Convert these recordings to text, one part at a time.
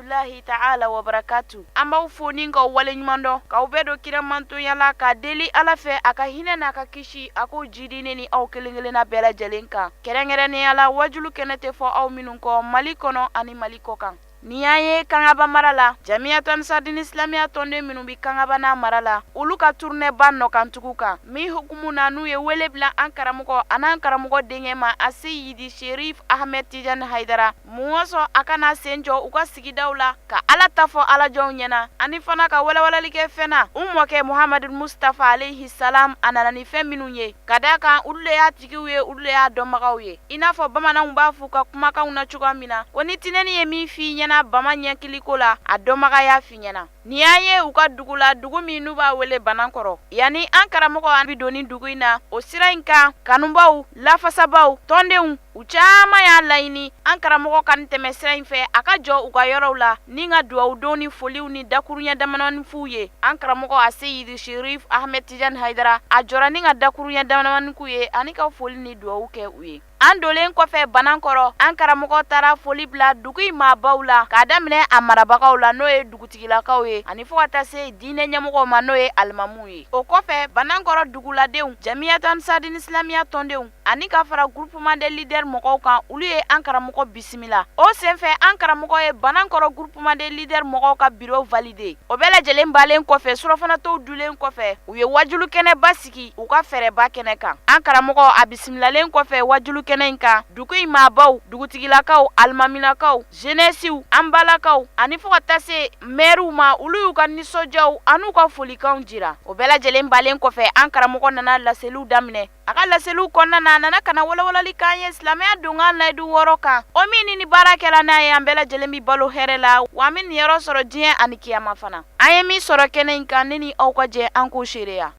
rahmatulahi ta'ala wa barakatu an b'aw fo ni k'aw waleɲuman dɔn k'aw bɛɛ don kira mantonya la ka deli ala fɛ a ka hinɛ n'a ka kisi a k'o jidi ne ni aw kelen kelenna bɛɛ lajɛlen kan kɛrɛnkɛrɛnnenya la wajulu kɛnɛ tɛ fɔ aw minnu kɔ mali kɔnɔ ani mali kɔkan Ni y'an ye kangaba mara la jamiyatu ansardini isilamiya tɔnden minnu bɛ kangaba n'a mara la olu ka turunɛba nɔkantugu kan min hukumu na n'u ye wele bila an karamɔgɔ an'an karamɔgɔ denkɛ ma aseyidi serif ahamɛd tijani haidara Mɔzɔn a ka na a sen jɔ u ka sigidaw la ka ala ta fɔ alajɔnw ɲɛna ani fana ka walawalali kɛ fɛn na u mɔkɛ muhamadu mustafa alayhi salam a nana ni fɛn minnu ye ka d' a kan olu de y'a tigiw ye olu de y'a dɔnbagaw ye i n'a fɔ bamananw b'a fɔ u ka kumakanw na cogoya min na ko ni tinɛnin ye min f'i ɲɛna bama ɲɛkili ko la a dɔnbaga y'a f'i ɲɛna Ni an ye u ka dugu la dugu min n'u b'a wele Banankɔrɔ, yanni an karamɔgɔ an bɛ don nin dugu in na, o sira in kan kanubaaw, lafasabaaw, tɔndenw, u caman y'a laɲini an karamɔgɔ ka nin tɛmɛ sira in fɛ, a ka jɔ u ka yɔrɔw la ni ka duwawudonw ni foliw ni dakuruɲɛ damadamanin f'u ye. An karamɔgɔ Aseyidi Serif Ahmed Tijani Hayidara, a jɔra ni ka dakuruɲɛ damadamanin k'u ye ani ka foli ni duwawu kɛ u ye. an dolen kɔfɛ banankɔrɔ an karamɔgɔ taara foli bila dugu in maabaw la k'a daminɛ a marabagaw la n'o ye dugutigilakaw ye ani fo ka taa se diinɛ ɲɛmɔgɔ ma n'o ye alimamu ye o kɔfɛ banankɔrɔ duguladenw jamiyatu ansardini isilamiya tɔndenw ani ka fara groupement des leaders mɔgɔw kan olu ye an karamɔgɔ bisimila o senfɛ an karamɔgɔ ye banankɔrɔ groupement des leaders mɔgɔw ka bureau valider o bɛɛ lajɛlen balen kɔfɛ surɔfanatow dulen kɔfɛ u ye wajulu kɛnɛba si sigi u ka fɛrɛba kɛnɛ kan an karamɔgɔ a bisimilalen kɔfɛ wajulu kɛnɛ in kan dugu in maabaw dugutigilakaw alimaminakaw zenɛsiw an balakaw ani fo ka taa se mɛriw ma olu y'u ka nisɔndiyaw an'u ka folikanw jira o bɛɛ lajɛlen balen kɔfɛ an karamɔgɔ nana laseliw daminɛ a ka laseliw kɔnɔna na a nana ka na walawalali k'an ye silamɛya donkan layidu wɔɔrɔ kan o min ni ni baara kɛra n'a ye an bɛɛ lajɛlen bɛ balo hɛrɛ la wa an bɛ niyɔrɔ sɔrɔ diɲɛ ani kiyama fana An ye min sɔrɔ kɛnɛ in kan ne ni aw ka jɛ an k'o seereya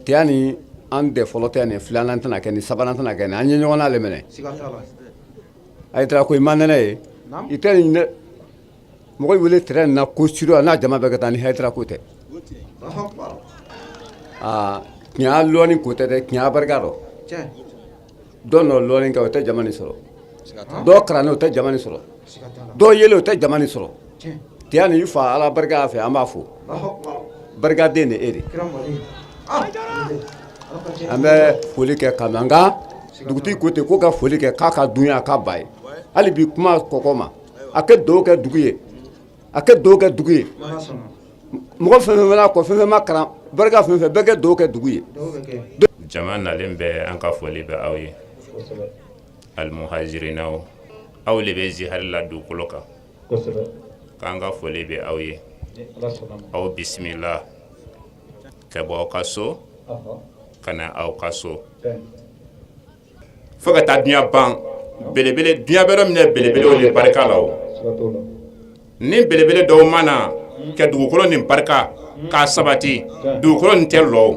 tiyani an de fɔlɔ tɛ nin filanan tɛna kɛ ni sabanan tɛna kɛ nin an ye ɲɔgɔn le minɛ hayidara ko i ma nɛnɛ ye i tɛ nin dɛ mɔgɔ wele tɛrɛn na ko su rɔ n'a jama bɛɛ ka taa ni hayidara ko tɛ aa tiɲɛ lɔɔni ko tɛ dɛ tiɲɛ barika don dɔ nɔ lɔɔni kɛ o tɛ jama nin sɔrɔ dɔ kalannen o tɛ jama nin sɔrɔ dɔ ye le o tɛ jama nin sɔrɔ tiyani i fa ala barika y'a fɛ an b'a fɔ barikaden de e de an bɛ foli kɛ ka an ka dugutigi ko ten ko ka foli kɛ k'a ka dunya a ka ba ye hali bi kuma kɔkɔ ma a kɛ dɔw kɛ dugu ye A ka dugawu kɛ dugu ye mɔgɔ fɛn fɛn mana ko fɛn fɛn ma kalan barika fɛn fɛn bɛɛ ka dugawu kɛ dugu ye jama nalen bɛɛ an ka foli bɛ aw ye alimuhajirinaw aw le bɛ ziyara la dugukolo kan k'an ka foli bɛ aw ye aw bisimila ka bɔ aw ka so ka na aw ka so fo ka taa dunya ban belebele dunya bɛ yɔrɔ min na belebelew de barika la o ni belebele dɔw ma na ka dugukolo nin barika k'a sabati dugukolo nin tɛ lɔ o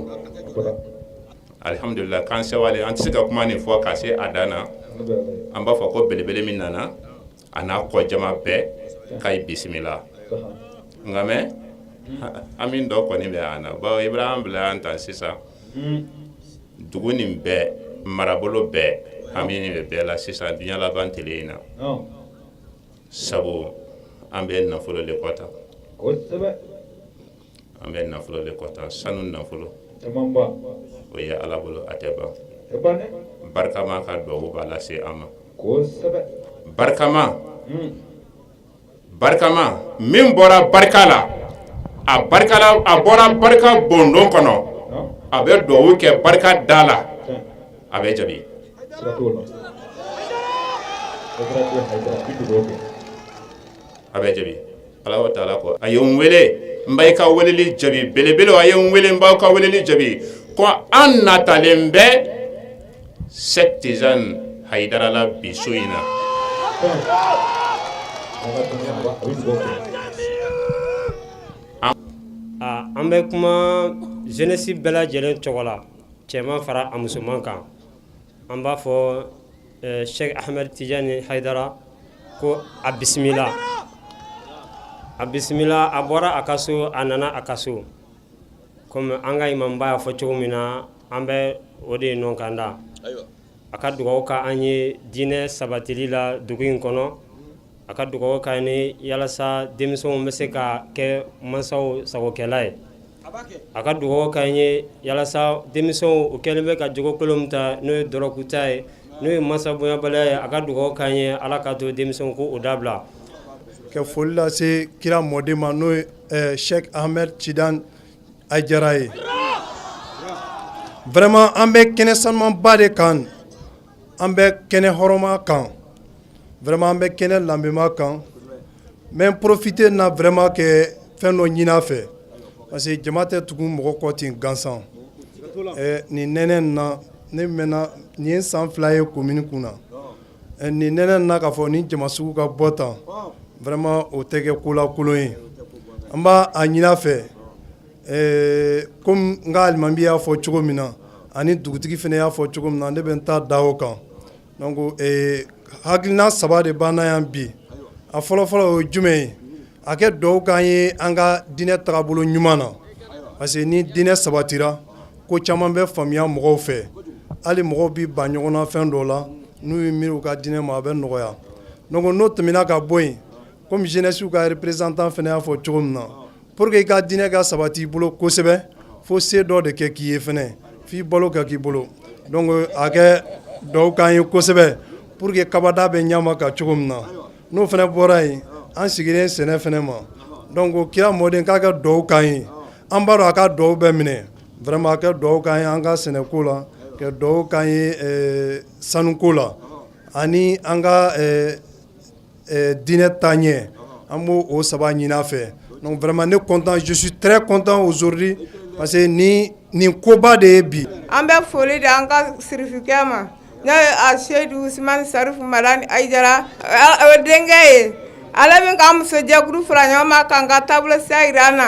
alihamudulila k'an sewalen an tɛ se ka kuma nin fɔ ka se a dan na an b'a fɔ ko belebele min nana a n'a kɔ jama bɛɛ ka ye bisimila nka mɛ hami dɔ kɔni bɛ an na bawo Ibrahima bila an ta sisan dugu nin bɛɛ marabolo bɛɛ hami bɛ bɛɛ la sisan dunya laban tele in na sabu an bɛ nafolo le kɔ ta An bɛ nafolo de kɔ ta sanu nafolo o ye ala bolo a tɛ ban barikama ka dugawu b'a lase an ma barikama barikama min bɔra barika la a barika a bɔra barika bondon kɔnɔ a bɛ dugawu kɛ barika da la a bɛ jaabi a bɛ jaabi Ala wa taala ko a ye n wele n b'aw ka weleli jaabi belebele a ye n wele n b'aw ka weleli jaabi ko an natalen bɛ Sheikh Tijani Hayidara la bi su in na an bɛ kuma jeunesse bɛɛ lajɛlen tɔgɔ la cɛman fara a musoman kan an b'a fɔ Sheikh Ahmed Tijani Hayidara ko a bisimila a bisimila a bɔra a ka so a nana a ka so kɔmi an ka imamba y'a fɔ cogo min na an bɛ o de nɔ kan da a ka dugawu k'an ye diinɛ sabatili la dugu in kɔnɔ A ka dugawu k'an ye yalasa denmisɛnw bɛ se ka kɛ mansaw sagokɛla ye a ka dugawu k'an ye yalasa denmisɛnw u kɛlen bɛ ka jogo kolon min ta n'o ye dɔrɔku ta ye n'o ye mansa bonyabaliya ye a ka dugawu k'an ye ala ka to denmisɛnw k'o dabila ka foli lase kira mɔden ma n'o ye Sheikh Ahmed Tijani Hayidara ye vraiment an bɛ kɛnɛ sanumanba de kan an bɛ kɛnɛ hɔrɔnma kan vraiment an bɛ kɛnɛ lanbema kan n bɛ profiter na vraiment ka fɛn dɔ ɲin'a fɛ parce que jama tɛ tugu mɔgɔ kɔ ten gansan nin nɛnɛ na ne mɛnna nin ye san fila ye commune kun na nin nɛnɛ na k'a fɔ nin jama sugu ka bɔ tan vraiment o tɛ kɛ ko lakolon ye an b'a ɲin'a fɛ Ee kɔmi n ka alimami y'a fɔ cogo min na ani dugutigi fana y'a fɔ cogo min na ne bɛ n ta da o kan donc hakilina saba de b'an na yan bi a fɔlɔfɔlɔ o ye jumɛn ye a kɛ duwaw k'an ye an ka diinɛ tagabolo ɲuman na parce que ni diinɛ sabatira ko caman bɛ faamuya mɔgɔw fɛ hali mɔgɔw bɛ ban ɲɔgɔn na fɛn dɔw la n'u ye miiri u ka diinɛ ma a bɛ nɔgɔya donc n'o tɛmɛna ka bɔ yen Kɔmi jeunesse ka représentant fana y'a fɔ cogo min na pour que i ka diinɛ ka sabati i bolo kosɛbɛ fo se dɔ de kɛ k'i ye fana f'i balo ka k'i bolo donc a kɛ duwaw k'an ye kosɛbɛ pour que kabada bɛ ɲa ka cogo min na n'o fana bɔra yen an sigilen sɛnɛ fana ma donc kira mɔden k'a ka duwaw k'an ye an b'a dɔn a ka duwaw bɛ minɛ vraiment a kɛ duwaw k'an ye an ka sɛnɛko la ka duwaw k'an ye sanuko la ani an ka Diinɛ taaɲɛ an b' o saba ɲin'a fɛ donc vraiment ne content je suis très content aujourd'hui parce que ni nin koba de ye bi an bɛ foli di an ka sirifikɛ ma n'o ye aseyidu usmani sarifu madani ayidara o denkɛ ye ale min k'an musojɛkulu fara ɲɔgɔn ma k'an ka taabolo sira jira an na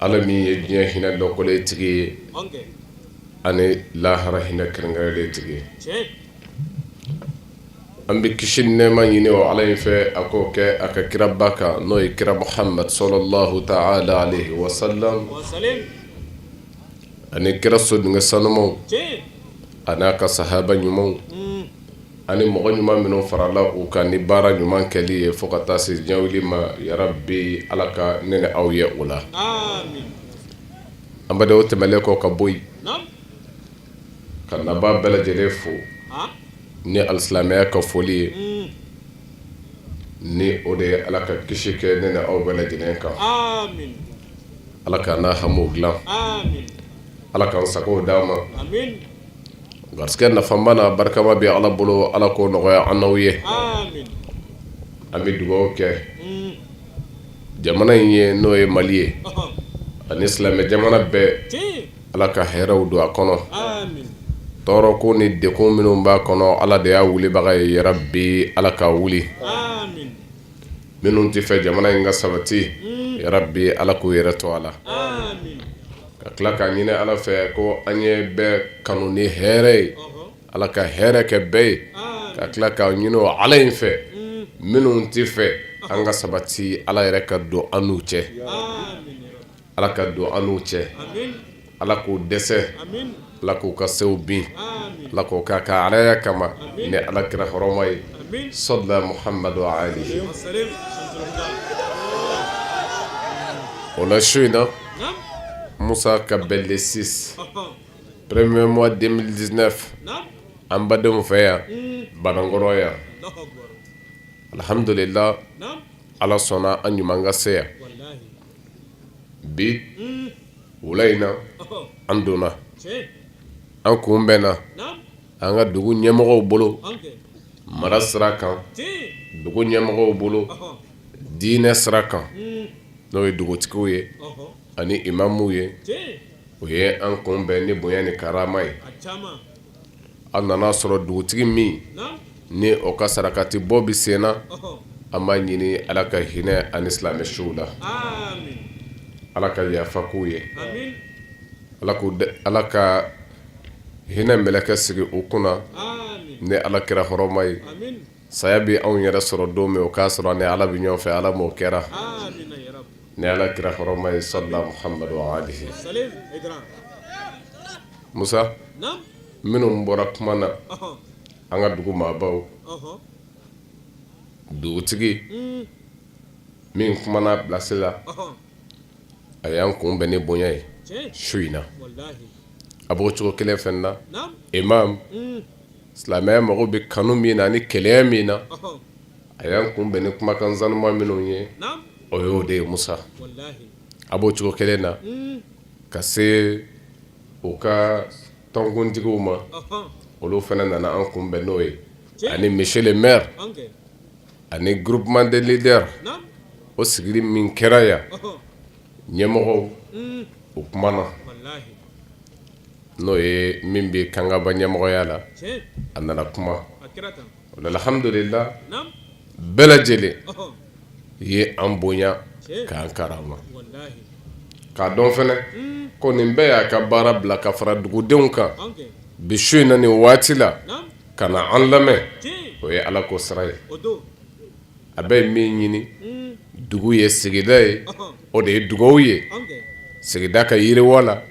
Ala min ye diɲɛ hinɛ dɔnkɔlen tigi ye ani lahara hinɛ kɛrɛnkɛrɛnlen tigi ye an bɛ kisi ni nɛɛma ɲini o ala in fɛ a k'o kɛ a ka kiraba kan n'o ye kira muhammad sallallahu ta'ala alayhi wa sallam ani kira sodenkɛ sanumaw ani a ka sahaba ɲumanw ani mɔgɔ ɲuman minnu farala u kan ni baara ɲuman kɛli ye fo ka taa se diɲɛ wuli ma yarabi ala ka ne n'aw ye o la an bɛ o tɛmɛnlen kɔ ka bɔ yen ka nabaa bɛɛ lajɛlen fo ni alisilamɛya ka foli ye ni o de ye ala ka kisi kɛ ne n'aw bɛɛ lajɛlen kan ala k'an n'aw hami dilan ala k'an sago di an ma garisɛgɛ nafama n'a barikama bɛ ala bolo ala k'o nɔgɔya an n'aw ye an bɛ dugaw kɛ jamana in ye n'o ye mali ye ani silamɛ jamana bɛɛ ala ka hɛrɛw don a kɔnɔ tɔɔrɔko ni degun minnu b'a kɔnɔ ala de y'a wulibaga ye yarabi ala k'a wuli minnu t'a fɛ jamana in ka sabati yarabi ala k'u yɛrɛ to a la ka tila k'a ɲini ala fɛ ko an ye bɛɛ kanu ni hɛrɛ ye ala ka hɛrɛ kɛ bɛɛ ye ka tila k'a ɲini o ala in fɛ minnu tɛ fɛ an ka sabati ala yɛrɛ ka don an n'u cɛ ala ka don an n'u cɛ ala k'u dɛsɛ Ala k'u ka sew bin ala k'o k'a ka alaya kama ni ala kira hɔrɔma ye sɔlila muhamadu wa alihi o la su in na musa ka bɛn le six premier mois deux mille dix-neuf an badenw fɛ yan banankɔrɔ yan alihamdulila ala sɔnna an ɲuman ka se yan bi wula in na an donna an kun bɛnna an ka dugu ɲɛmɔgɔw bolo mara sira kan dugu ɲɛmɔgɔw bolo diinɛ sira kan n'o ye dugutigiw ye ani imamuw ye u ye an kun bɛn ni bonya ni karama ye an nana a sɔrɔ dugutigi min ni o ka sarakati bɔ bɛ senna an b'a ɲini ala ka hinɛ ani silamɛ suw la ala ka yafa k'u ye ala ka hinɛ mɛlɛkɛ sigi u kunna ni ala kira hɔrɔma ye saya bɛ anw yɛrɛ sɔrɔ don min o k'a sɔrɔ ni ala bɛ ɲɔgɔn fɛ ala m'o kɛra ni ala kira hɔrɔma ye sa musa minnu bɔra kuma na an ka dugu maabaw dugutigi min kumana bilasi la a y'an kun bɛn ni bonya ye su in na a b'o cogo kelen fɛn na imamu silamɛya mago bɛ kanu min na ani kelenya min na a y'an kun bɛn ni kumakan sanuma minnu ye o y'o de ye musa a b'o cogo kelen na ka se u ka tɔnkuntigiw ma olu fana nana an kunbɛn n'o ye ani monsieur le maire ani groupement de leaders o sigili min kɛra yan ɲɛmɔgɔ o kumana n'o ye min bɛ kangaba ɲɛmɔgɔya la a nana kuma Alhamdulila bɛɛ lajɛlen ye an bonya k'an karama k'a dɔn fɛnɛ ko nin bɛɛ y'a ka baara bila ka fara dugudenw kan bi su in na nin waati la ka na an lamɛn o ye ala ko sira ye a bɛ ye min ɲini dugu ye sigida ye o de ye dugaw ye sigida ka yiriwa la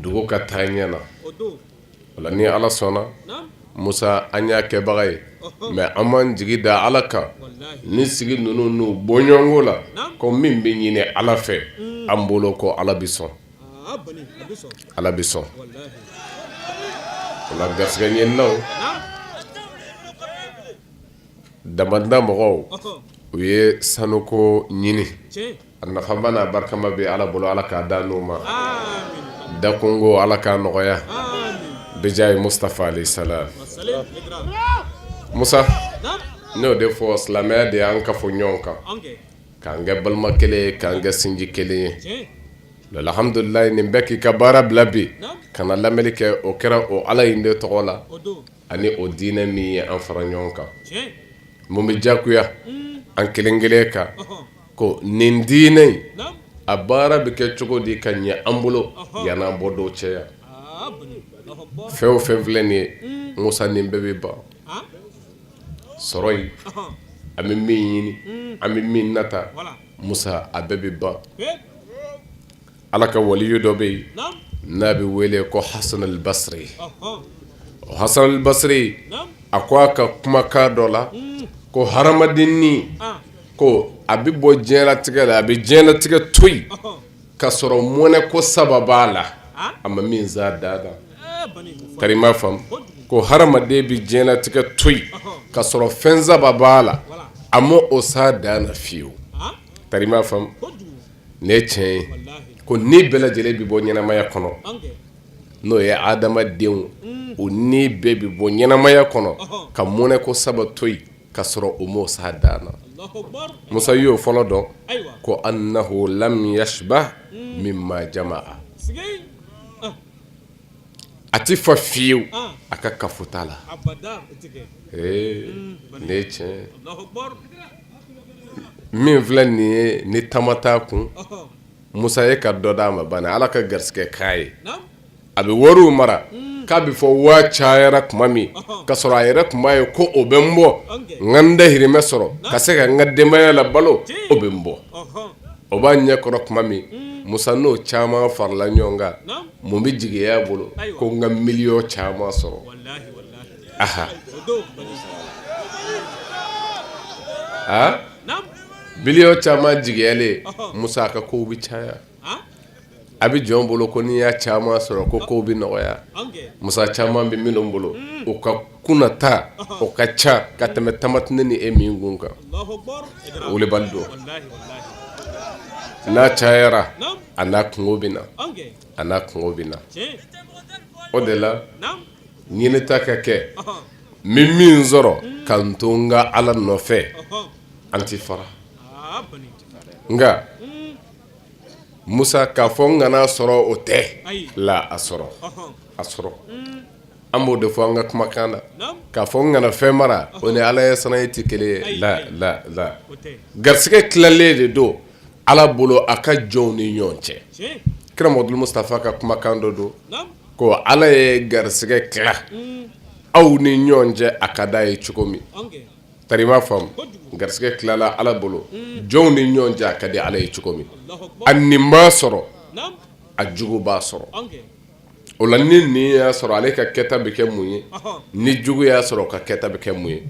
dugu ka taa ɲɛ na O la ni Ala sɔnna naam Musa an y'a kɛbaga ye ɔhɔɔ mais an m'an jigi da Ala kan walahi nin sigi ninnu n'u bɔɲɔɔnko la naam ko min be ɲini Ala fɛ uun an bolo ko Ala bi sɔn aa bani a be sɔn Ala bi sɔn walahi o la garisigɛɲininaw naam damanda mɔgɔw ɔhɔɔ u ye sanuko ɲini tiɲɛ A nafama n'a barikama bɛ Ala bolo Ala k'a d'an n'u ma aamina dakunko Ala k'a nɔgɔya aamina bijahi Mustafa alayhi salaam wa salaam Musa naam n y'o de fɔ silamɛya de y'an kafo ɲɔɔn kan an kɛ k'an kɛ balima 1 ye k'an kɛ sinji 1 ye tiɲɛ don alhamdulilahi ni bɛɛ k'i ka baara bila bi naam ka na lamɛli kɛ o kɛra o Ala in de tɔgɔ la o don ani o diinɛ min ye an fara ɲɔɔn kan tiɲɛ mun be jagoya uun an kelen-kelen kan ɔhɔɔ ko nin diinɛ in a baara bɛ kɛ cogo di ka ɲɛ an bolo yann'an bɔ dɔw cɛ yan fɛn o fɛn filɛ nin ye musa nin bɛɛ bɛ ban sɔrɔ in an bɛ min ɲini an bɛ min nata musa a bɛɛ bɛ ban Ala ka waliyu dɔ bɛ yen n'a bɛ wele ko hasan al-basri o hasan al-basri a ko a ka kumakan dɔ la ko hadamadennin ko a bɛ bɔ diɲɛlatigɛ la a bɛ diɲɛlatigɛ to yen ka sɔrɔ mɔnɛ ko saba b'a la a ma min s'a dan na tari i m'a faamu ko hadamaden bɛ diɲɛlatigɛ to yen ka sɔrɔ fɛn saba b'a la a ma o s'a dan na fiyewu tari i m'a faamu nin ye tiɲɛ ye ko ni bɛɛ lajɛlen bɛ bɔ ɲɛnamaya kɔnɔ n'o ye hadamadenw o ni bɛɛ bɛ bɔ ɲɛnamaya kɔnɔ ka mɔnɛ ko saba to yen ka sɔrɔ o m'o s'a dan na musa y'o fɔlɔ dɔn ko annahu lam yashba' mimma jama'a a tɛ fa fiyewu a ka kafota la nin ye tiɲɛ ye min filɛ nin ye ni tama t'a kun musa ye ka dɔ d'a ma bani ala ka garisɛgɛ k'a ye a bɛ wariw mara k'a bɛ fɔ waa cayara tuma min ka sɔrɔ a yɛrɛ tun b'a ye ko o bɛ n bɔ n ka n dahirimɛ sɔrɔ ka se ka n ka denbaya labalo o bɛ n bɔ o b'a ɲɛ kɔrɔ tuma min musa n'o caman farala ɲɔgɔn kan mun bɛ jigiya a bolo ko n ka miliyɔn caman sɔrɔ aha miliyɔn caman jigiyalen musa ka kow bɛ caya a bɛ jɔn bolo ko n'i y'a caman sɔrɔ ko kow bɛ nɔgɔya musa caman bɛ minnu bolo o ka kunnata o ka ca ka tɛmɛ tama tɛ ne ni e min kun kan o de b'a don n'a cayara a n'a kungo bɛ na a n'a kungo bɛ na o de la ɲinita ka kɛ n bɛ min sɔrɔ ka n to n ka ala nɔfɛ an tɛ fara nka musa k'a fɔ n kana sɔrɔ o tɛ la a sɔrɔ a sɔrɔ an b'o de fɔ an ka kumakan na k'a fɔ n kana fɛn mara o ni ala ɲɛsiranɲɛ tɛ kelen ye la garisɛgɛ tilalen de don ala bolo a ka jɔnw ni ɲɔgɔn cɛ kira mamadu mustafa ka kumakan dɔ don ko ala ye garisɛgɛ tila aw ni ɲɔgɔn cɛ a ka d'a ye cogo min tari i m'a faamu garisɛgɛ tilala ala bolo jɔnw ni ɲɔgɔn cɛ a ka di ala ye cogo min a ɲin b'a sɔrɔ a jugu b'a sɔrɔ o la ni ɲin y'a sɔrɔ ale ka kɛta bɛ kɛ mun ye ni jugu y'a sɔrɔ ka kɛta bɛ kɛ mun ye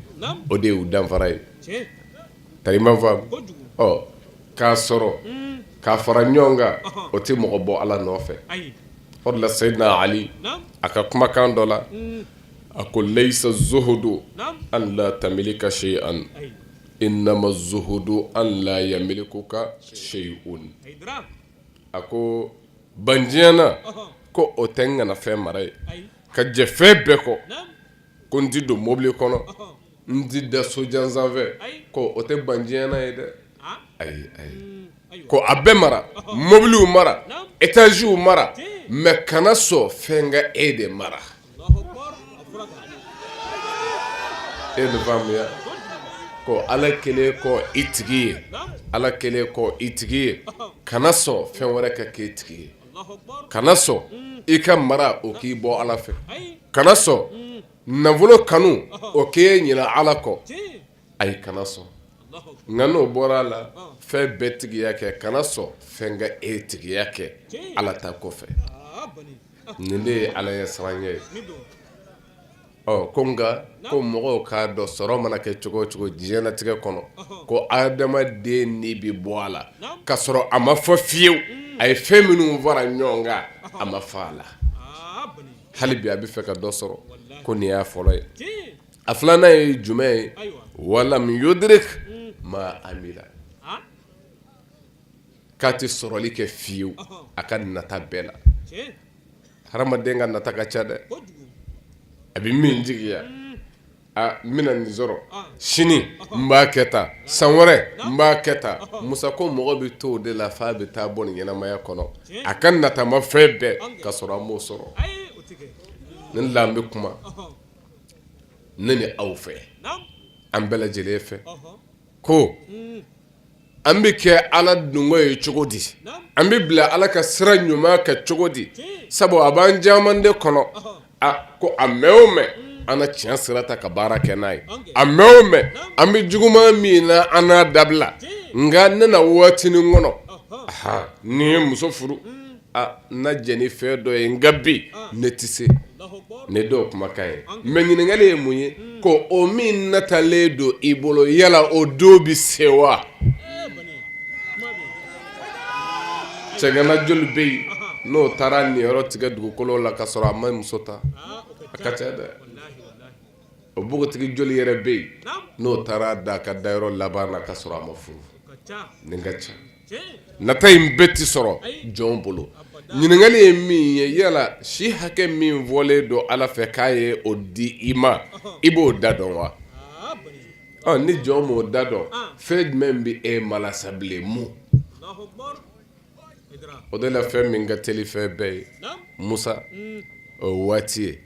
o de y'u danfara ye Tari i m'a faamu k'a sɔrɔ k'a fara ɲɔgɔn kan o tɛ mɔgɔ bɔ ala nɔfɛ o la sayidina ali a ka kumakan dɔ la a ko laysa zuhudu an la tamlika shay'an innama zuhudu an la yamlikuka shay'un a ko bandiɲɛna ko o tɛ n kana fɛn mara ye ka jɛ fɛn bɛɛ kɔ ko n tɛ don mɔbili kɔnɔ N tɛ da so jan sanfɛ ko o tɛ bandiɲɛna ye dɛ ayi ayi ko a bɛɛ mara mɔbiliw mara etaziw mara mɛ kana sɔn fɛn ka e de mara e ko ala kelen kɔ e tigi ye ala kelen kɔ e tigi ye kana sɔn fɛn wɛrɛ ka k'e tigi ye kana sɔn i ka mara o k'i bɔ ala fɛ kana sɔn nafolo kanu o k'e ɲina ala kɔ ayi kana sɔn nka n'o bɔra a la fɛn bɛɛ tigiya kɛ kana sɔn fɛn ka e tigiya kɛ ala ta kɔfɛ nin de ye ala ɲɛsiran ye ɔ ko nka ko mɔgɔw k'a dɔn sɔrɔ mana kɛ cogo o cogo diɲɛlatigɛ kɔnɔ ko adamaden ni bɛ bɔ a la ka sɔrɔ a ma fa fiyewu a ye fɛn minnu fara ɲɔgɔn kan a ma fa a la hali bi a bɛ fɛ ka dɔ sɔrɔ ko nin y'a fɔlɔ ye a filanan ye jumɛn ye walam yudrik ma amila k'a tɛ sɔrɔli kɛ fiyewu a ka nata bɛɛ la hadamaden ka nata ka ca dɛ a bɛ min jigiya aa n bɛna nin sɔrɔ sini n b'a kɛ tan san wɛrɛ n b'a kɛ tan Musa ko mɔgɔ bɛ t'o de la f'a bɛ taa bɔ nin ɲɛnamaya kɔnɔ a ka natamafɛn bɛɛ ka sɔrɔ a m'o sɔrɔ nin de la n bɛ kuma ne ni aw fɛ an bɛɛ lajɛlen fɛ ko an bɛ kɛ ala dungo ye cogo di an bɛ bila ala ka sira ɲuman kan cogo di sabu a b'an caman de kɔnɔ a ko a mɛn o mɛn an na tiɲɛ sira ta ka baara kɛ n'a ye a mɛn o mɛn an bɛ juguman min na an n'a dabila nka ne na waatinin kɔnɔ aa ni n ye muso furu Aa n na jɛn ni fɛn dɔ ye nka bi ne tɛ se ne dɔw kumakan ye mɛ ɲininkali ye mun ye ko o min natalen don i bolo yala o don bɛ se wa cɛgana joli bɛ yen n'o taara niyɔrɔ tigɛ dugukolo la ka sɔrɔ a ma muso ta a ka ca dɛ o npogotigi joli yɛrɛ bɛ yen n'o taara da ka dayɔrɔ laban na ka sɔrɔ a ma furu nin ka ca nata in bɛɛ tɛ sɔrɔ jɔn bolo ɲininkakali ye min ye yala si hakɛ min fɔlen don ala fɛ k'a ye o di i ma i b'o da dɔn wa ni jɔn m'o da dɔn fɛn jumɛn bɛ e malasa bilen o de la fɛn min ka teli fɛn bɛɛ ye musa o waati ye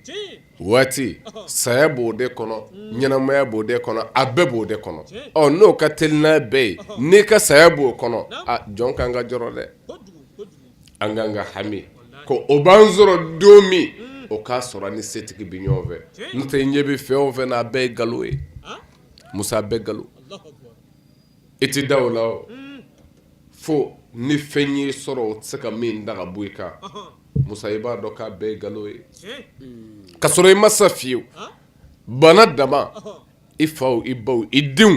waati saya b'o de kɔnɔ ɲɛnamaya b'o de kɔnɔ a bɛɛ b'o de kɔnɔ ɔ n'o ka teli n'a bɛɛ ye n'i ka saya b'o kɔnɔ jɔn kan ka jɔrɔ dɛ an kan ka hami ko o b'an sɔrɔ don min o k'a sɔrɔ an ni setigi bɛ ɲɔgɔn fɛ n'o tɛ ɲɛ bɛ fɛn o fɛn na a bɛɛ ye nkalon ye musa a bɛɛ nkalon I tɛ da o la fo ni fɛn y'i sɔrɔ o tɛ se ka min da ka bɔ i kan musa i b'a dɔn k'a bɛɛ nkalon ye ka sɔrɔ i ma sa fiyewu bana dama i faw i baw i denw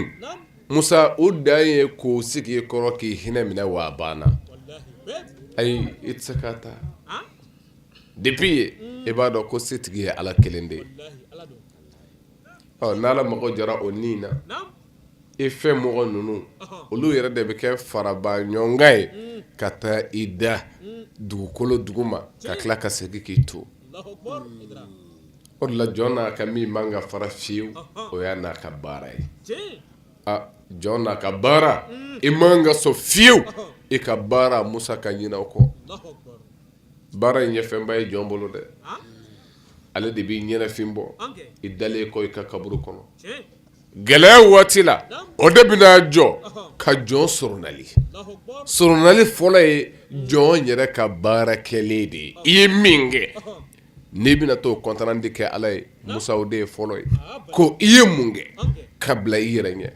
musa o dan ye k'o sigi i kɔrɔ k'i hinɛ minɛ wa bana ayi i tɛ se k'a ta depuis ye i b'a dɔn ko setigi ye ala kelen de ye ɔ n'ala mago jɔra o ni na e fɛ mɔgɔ ninnu olu yɛrɛ de bɛ kɛ faraba ɲɔgɔnkan ye ka taa i da dugukolo duguma ka tila ka segin k'i to o de la jɔn n'a ka min man ka fara fiyewu o y'a n'a ka baara ye jɔn n'a ka baara i man ka sɔn fiyewu e ka baara musa ka ɲinɛ o kɔ baara in ye fɛnba ye jɔn bolo dɛ ale de b'i ɲɛnafin bɔ i dalen kɔ i ka kaburu kɔnɔ gɛlɛya waati la o de bɛna jɔ ka jɔn soronali soronali fɔlɔ ye jɔn yɛrɛ ka baara kɛlen de ye i ye min kɛ n'i bɛna t'o compte rendu kɛ ala ye musa o de ye fɔlɔ ye ko i ye mun kɛ ka bila i yɛrɛ ɲɛ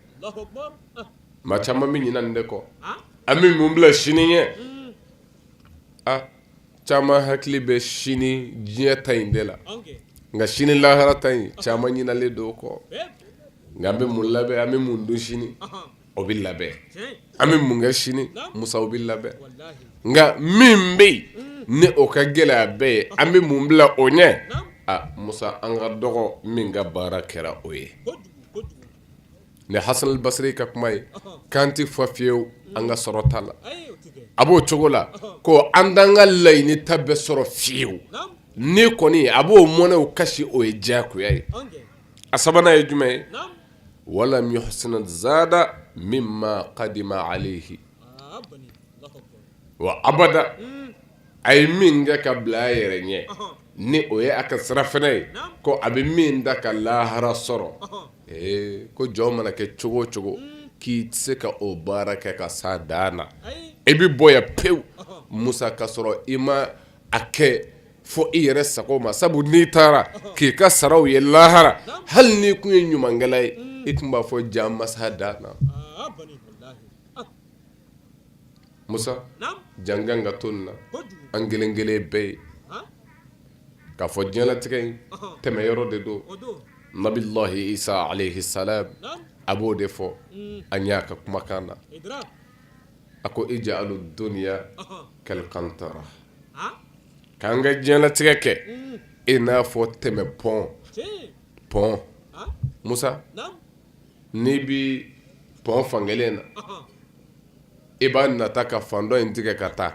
maa caman bɛ ɲinɛ nin de kɔ an bɛ mun bila sini ɲɛ Caman hakili bɛ sini diɲɛ ta in de la nka sini lahara ta in caman ɲinalen don o kɔ nka an bɛ mun labɛn an bɛ mun dun sini o bɛ labɛn an bɛ mun kɛ sini musa o bɛ labɛn nka min bɛ yen ni o ka gɛlɛn a bɛɛ ye an bɛ mun bila o ɲɛ a musa an ka dɔgɔ min ka baara kɛra o ye Nin hassan al basiri ka kuma ye k'an tɛ fa fiyew an ka sɔrɔ ta la a b'o cogo la ko an t'an ka laɲini ta bɛɛ sɔrɔ fiyew ni kɔni a b'o mɔnɛw kasi o ye diyagoya ye a sabanan ye jumɛn ye walam yuhsin zada minma qadima alayhi wa abada a ye min kɛ ka bila a yɛrɛ ɲɛ ni o ye a ka sirafana ye ko a bɛ min da ka lahara sɔrɔ ee ko jɔn mana kɛ cogo cogo k'i tɛ se ka o baara kɛ ka s'a dan na i bɛ bɔ yan pewu musa ka sɔrɔ i ma a kɛ fo i yɛrɛ sago ma sabu n'i taara k'i ka saraw ye lahara hali n'i tun ye ɲumankɛla ye i tun b'a fɔ jaa n ma s'a dan na musa j'an kan ka to na an kelen kelen bɛɛ ye k'a fɔ diɲɛlatigɛ in tɛmɛ yɔrɔ de don nabilahi isa alayhi salam a b'o de fɔ an y'a ka kumakan na a ko ij'alu dunya kal qantara k'an ka diɲɛlatigɛ kɛ i n'a fɔ tɛmɛ pɔn pɔn musa N'i bi pɔn fankelen na i b'a nata ka fan dɔ in tigɛ ka taa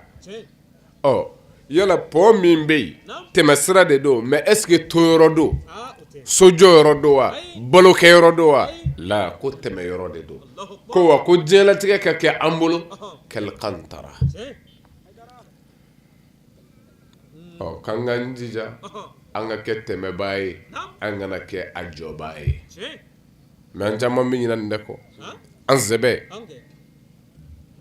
ɔ yala pɔn min bɛ yen tɛmɛ sira de don mais est-ce que to yɔrɔ don sojɔ yɔrɔ don wa balokɛ yɔrɔ don wa la ko tɛmɛ yɔrɔ de don ko wa ko diɲɛlatigɛ ka kɛ an bolo kal qantara k'an k'an jija an ka kɛ tɛmɛbaa ye an kana kɛ a jɔbaa ye mais an caman bɛ ɲina nin de kɔ an sɛbɛ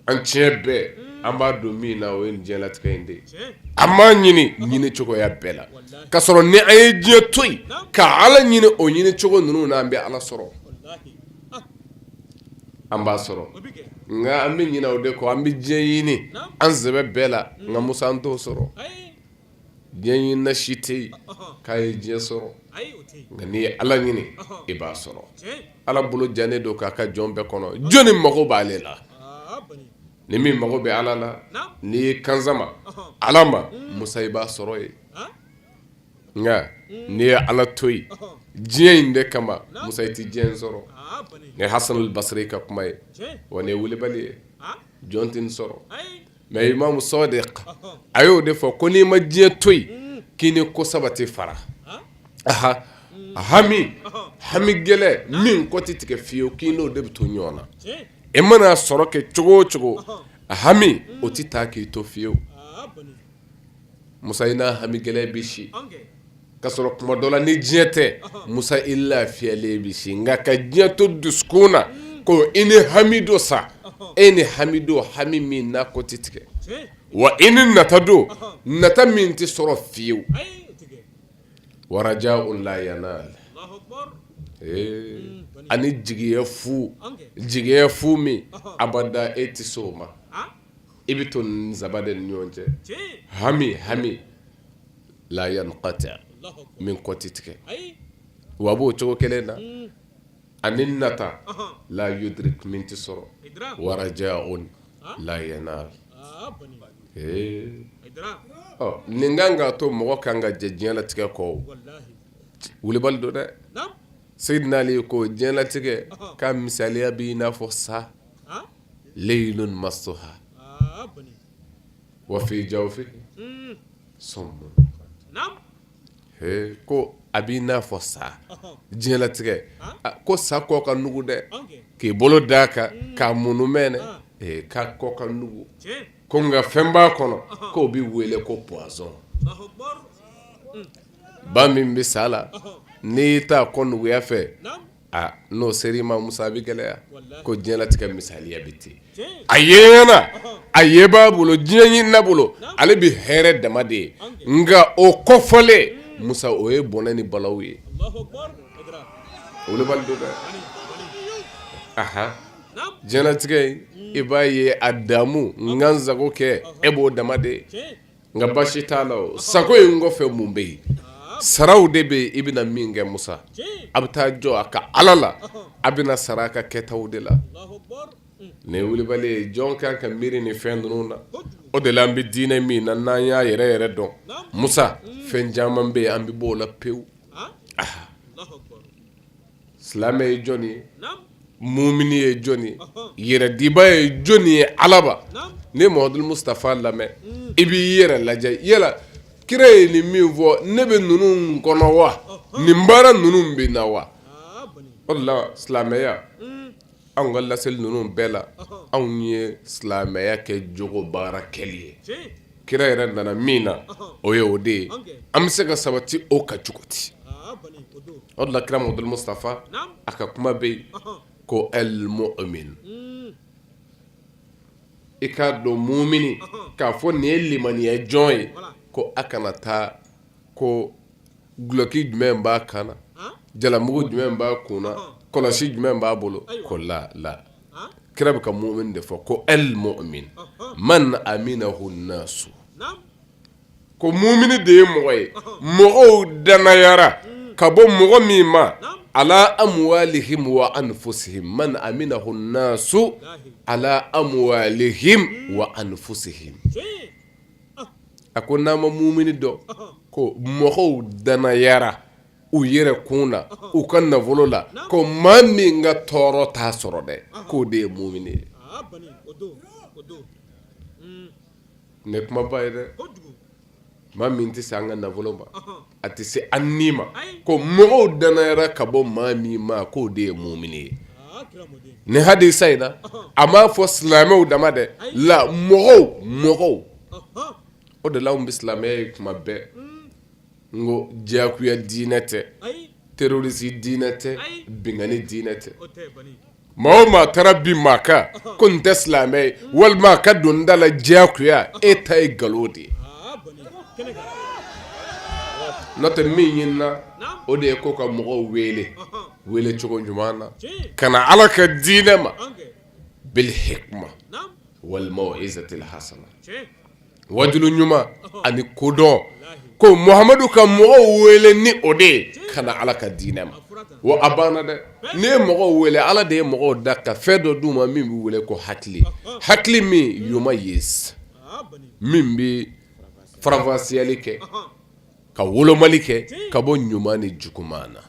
an tiɲɛ bɛɛ an b'a don min na o ye diɲɛlatigɛ in de ye an b'a ɲini ɲini cogoya bɛɛ la ka sɔrɔ ni an ye diɲɛ to yen ka ala ɲini o ɲini cogo ninnu na an bɛ ala sɔrɔ an b'a sɔrɔ nka an bɛ ɲina o de kɔ an bɛ diɲɛ ɲini an sɛbɛ bɛɛ la nka musa an t'o sɔrɔ diɲɛ ɲinina si tɛ yen k'a ye diɲɛ sɔrɔ nka n'i ye Ala ɲini i b'a sɔrɔ Ala bolo jannen don k'a ka jɔn bɛɛ kɔnɔ jɔni mago b'ale la ni min mago bɛ Ala la n'i ye kan sama Ala ma Musa i b'a sɔrɔ yen nka n'i ye Ala to yen diɲɛ in de kama Musa i tɛ diɲɛ in sɔrɔ nin ye Hasanul Basiri ka kuma ye wa nin ye wulibali ye jɔn tɛ nin sɔsɔ mais Imam Sadiq a y'o de fɔ ko n'i ma diɲɛ to yen k'i ni ko saba tɛ fara ah a hami hami gɛlɛ min kɔ tɛ tigɛ fiyewu k'i n'o de bɛ to ɲɔgɔn na e mana sɔrɔ kɛ cogo o cogo a hami o tɛ taa k'i to fiyewu musa i n'a hami gɛlɛ bɛ si Ka sɔrɔ kuma dɔ la ni diɲɛ tɛ musa i lafiyalen bɛ si nka ka diɲɛ to dusukun na ko i ni hami don sa e ni hami don hami min n'a kɔ tɛ tigɛ wa i ni nata don nata min tɛ sɔrɔ fiyewu wa rajaun la yanal ani jigiya fu jigiya fu min abada e tɛ s'o ma i bɛ to saba de ni ɲɔgɔn cɛ hami hami la yanqati min kɔ tɛ tigɛ wa a b'o cogo kelen na ani nata la yudrik min tɛ sɔrɔ wa rajaun la yanal nin kan k'a to mɔgɔ ka kan ka jɛ diɲɛlatigɛ kɔ wulibali don dɛ Seyidina Ali ko diɲɛlatigɛ ka misaliya bɛ i n'a fɔ sa leyinun massuha wa fi jawfi Ee ko a b'i n'a fɔ sa diɲɛlatigɛ ko sa kɔ ka nugu dɛ k'i bolo d'a kan k'a munumɛnɛ k'a kɔ ka nugu ko nka fɛn b'a kɔnɔ k'o bɛ wele ko poison ba min bɛ sa la n'i taa kɔ nuguya fɛ aa n'o sera i ma Musa a bɛ gɛlɛya, walahi, ko diɲɛlatigɛ misaliya bɛ ten, tiɲɛ, a ye ɲɛ na, ɔhɔ, a yebaa bolo diɲɛ ɲinina bolo, naamu, ale bɛ hɛrɛ dama de ye, nka o kɔ fɔlen, un, Musa o ye bɔnɛ ni balawu ye, Alahu akbar, o wulibali don dɛ, walahi, walahi, anhan, naamu, diɲɛlatigɛ in i b'a ye a damu, n ka n sago kɛ e b'o dama de ye, tiɲɛ Nka basi t'a la sago in kɔfɛ mun bɛ yen saraw de bɛ yen i bɛna min kɛ musa a bɛ taa jɔ a ka ala la a bɛna sara a ka kɛtaw de la nin ye wulibali ye jɔn kan ka miiri nin fɛn ninnu na o de la an bɛ diinɛ min na n'an y'a yɛrɛ yɛrɛ dɔn musa fɛn caman bɛ yen an bɛ bɔ o la pewu silamɛ ye jɔn ye muumini ye jɔn ye yɛrɛdiba ye jɔn ye a laban n'i ye Mahamadu Musitafa lamɛn i b'i yɛrɛ lajɛ yala kira ye nin min fɔ ne bɛ ninnu kɔnɔ wa nin baara ninnu bɛ n na wa o de la silamɛya anw ka laseli ninnu bɛɛ la anw ye silamɛya kɛ jogo baara kɛli ye kira yɛrɛ nana min na o ye o de ye an bɛ se ka sabati o kan cogo di o de la kira Muhamadu Mustafa a ka kuma bɛ yen ko al-mu'min i k'a dɔn mumini k'a fɔ nin ye limaniya jɔn ye ko a kana taa ko dulɔki jumɛn b'a kan na jalamugu jumɛn b'a kun na kɔlɔsi jumɛn b'a bolo ko la la kira bɛ ka mumini de fɔ ko al-mu'min man aminahu nasu ko mumini de ye mɔgɔ ye mɔgɔw danayara ka bɔ mɔgɔ min ma ala amwalihim wa anfusihim man aminahu nasu ala amwalihim wa anfusihim a ko n'a ma mumini dɔn ko mɔgɔw danayara u yɛrɛ kun na u ka nafolo la ko maa min ka tɔɔrɔ t'a sɔrɔ dɛ k'o de ye mumini ye nin ye kumaba ye dɛ maa min tɛ se an ka nafolo ma a tɛ se an ni ma ko mɔgɔw danayara ka bɔ maa min ma k' o de ye mumini ye nin hadisa in na a m'a fɔ silamɛw dama dɛ la mɔgɔw mɔgɔw o de la an bɛ silamɛya ye kuma bɛɛ n ko diyakuya diinɛ tɛ terorisi diinɛ tɛ binkanni diinɛ tɛ Maa o maa taara bin maa kan ko nin tɛ silamɛ ye walima ka don da la diyakuya e ta ye nkalon de ye n'o tɛ min ɲinina o de ye ko ka mɔgɔw wele welecogo ɲuman na ka na ala ka diinɛ ma bil hikma wal mau'izatil hasana wajulu ɲuman ani kodɔn ko Muhamadu ka mɔgɔw wele ni o de ye ka na ala ka diinɛ ma wa a banna dɛ n'i ye mɔgɔw wele ala de ye mɔgɔw da ka fɛn dɔ d' u ma min bɛ wele ko hakili hakili mumayyiz min bɛ faranfasiyali kɛ ka wolomali kɛ ka bɔ ɲuman ni juguman na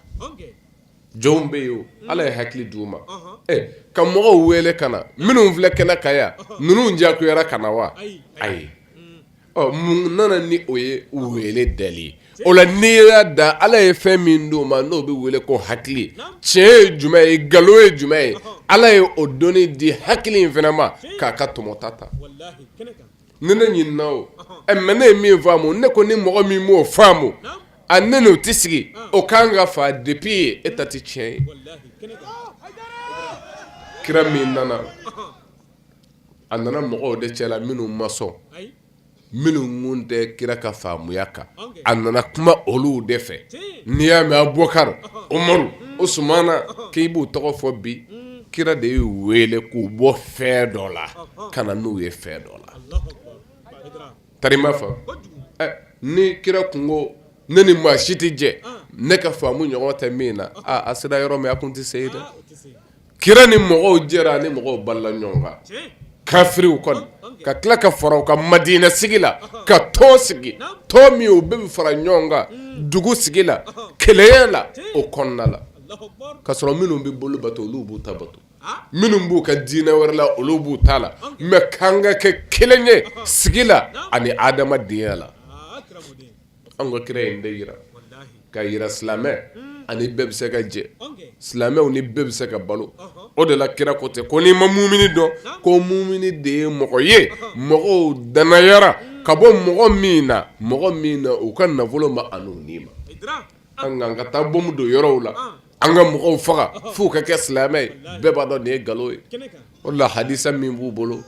jɔnw bɛ yen Ala ye hakili di u ma, unhun, ɛ ka mɔgɔw wele ka na minnu filɛ kɛnɛ kan yan ninnu diyakuyara ka na wa? ayi, ɔ mun nana ni o ye wele dali ye, o la n'i y'a da Ala ye fɛn min di u ma n'o bɛ wele ko hakili, tiɲɛ ye jumɛn ye nkalon ye jumɛn ye Ala ye o dɔnni di hakili in fana ma k'a ka tɔmɔta ta ni ne ɲinina o ma ne ye min faamu ne ko ni mɔgɔ min m'o faamu a ne n'o tɛ sigi o kan ka faa depuis e ta tɛ tiɲɛ ye kira min nana a nana mɔgɔw de cɛ la minnu ma sɔn minnu tun tɛ kira ka faamuya kan a nana kuma olu de fɛ n'i y'a mɛn Abubakari Umaru Usumana k'i b'u tɔgɔ fɔ bi kira de y'u wele k'u bɔ fɛn dɔ la ka na n'u ye fɛn dɔ la tari ma faamu ni kira kun ko ne ni maa si tɛ jɛ ne ka faamu ɲɔgɔn tɛ min na aaa a sera yɔrɔ min a tun tɛ se dɛ kira ni mɔgɔw jɛra ni mɔgɔw balola ɲɔgɔn kan kafiriw kɔni ka tila ka fara u kan madinɛ sigi la ka tɔn sigi tɔn min u bɛɛ bɛ fara ɲɔgɔn kan dugu sigi la kelenya la o kɔnɔna la ka sɔrɔ minnu bɛ boli bato olu b'u ta bato minnu b'u ka diinɛ wɛrɛ la olu b'u ta la mɛ k'an ka kɛ kelen ye sigi la ani adamadenya la an ka kira y'in de yira k'a yira silamɛ ani bɛɛ bɛ se ka jɛ silamɛw ni bɛɛ bɛ se ka balo o de la kira ko tɛ ko n'i ma mumini dɔn ko mumini de ye mɔgɔ ye mɔgɔw danayara ka bɔ mɔgɔ min na mɔgɔ min na u ka nafolo ma ani u ni ma An ka na taa bɔmu don yɔrɔw la an ka mɔgɔw faga f'u ka kɛ silamɛ ye bɛɛ b'a dɔn nin ye nkalon ye o la hadisa min b'u bolo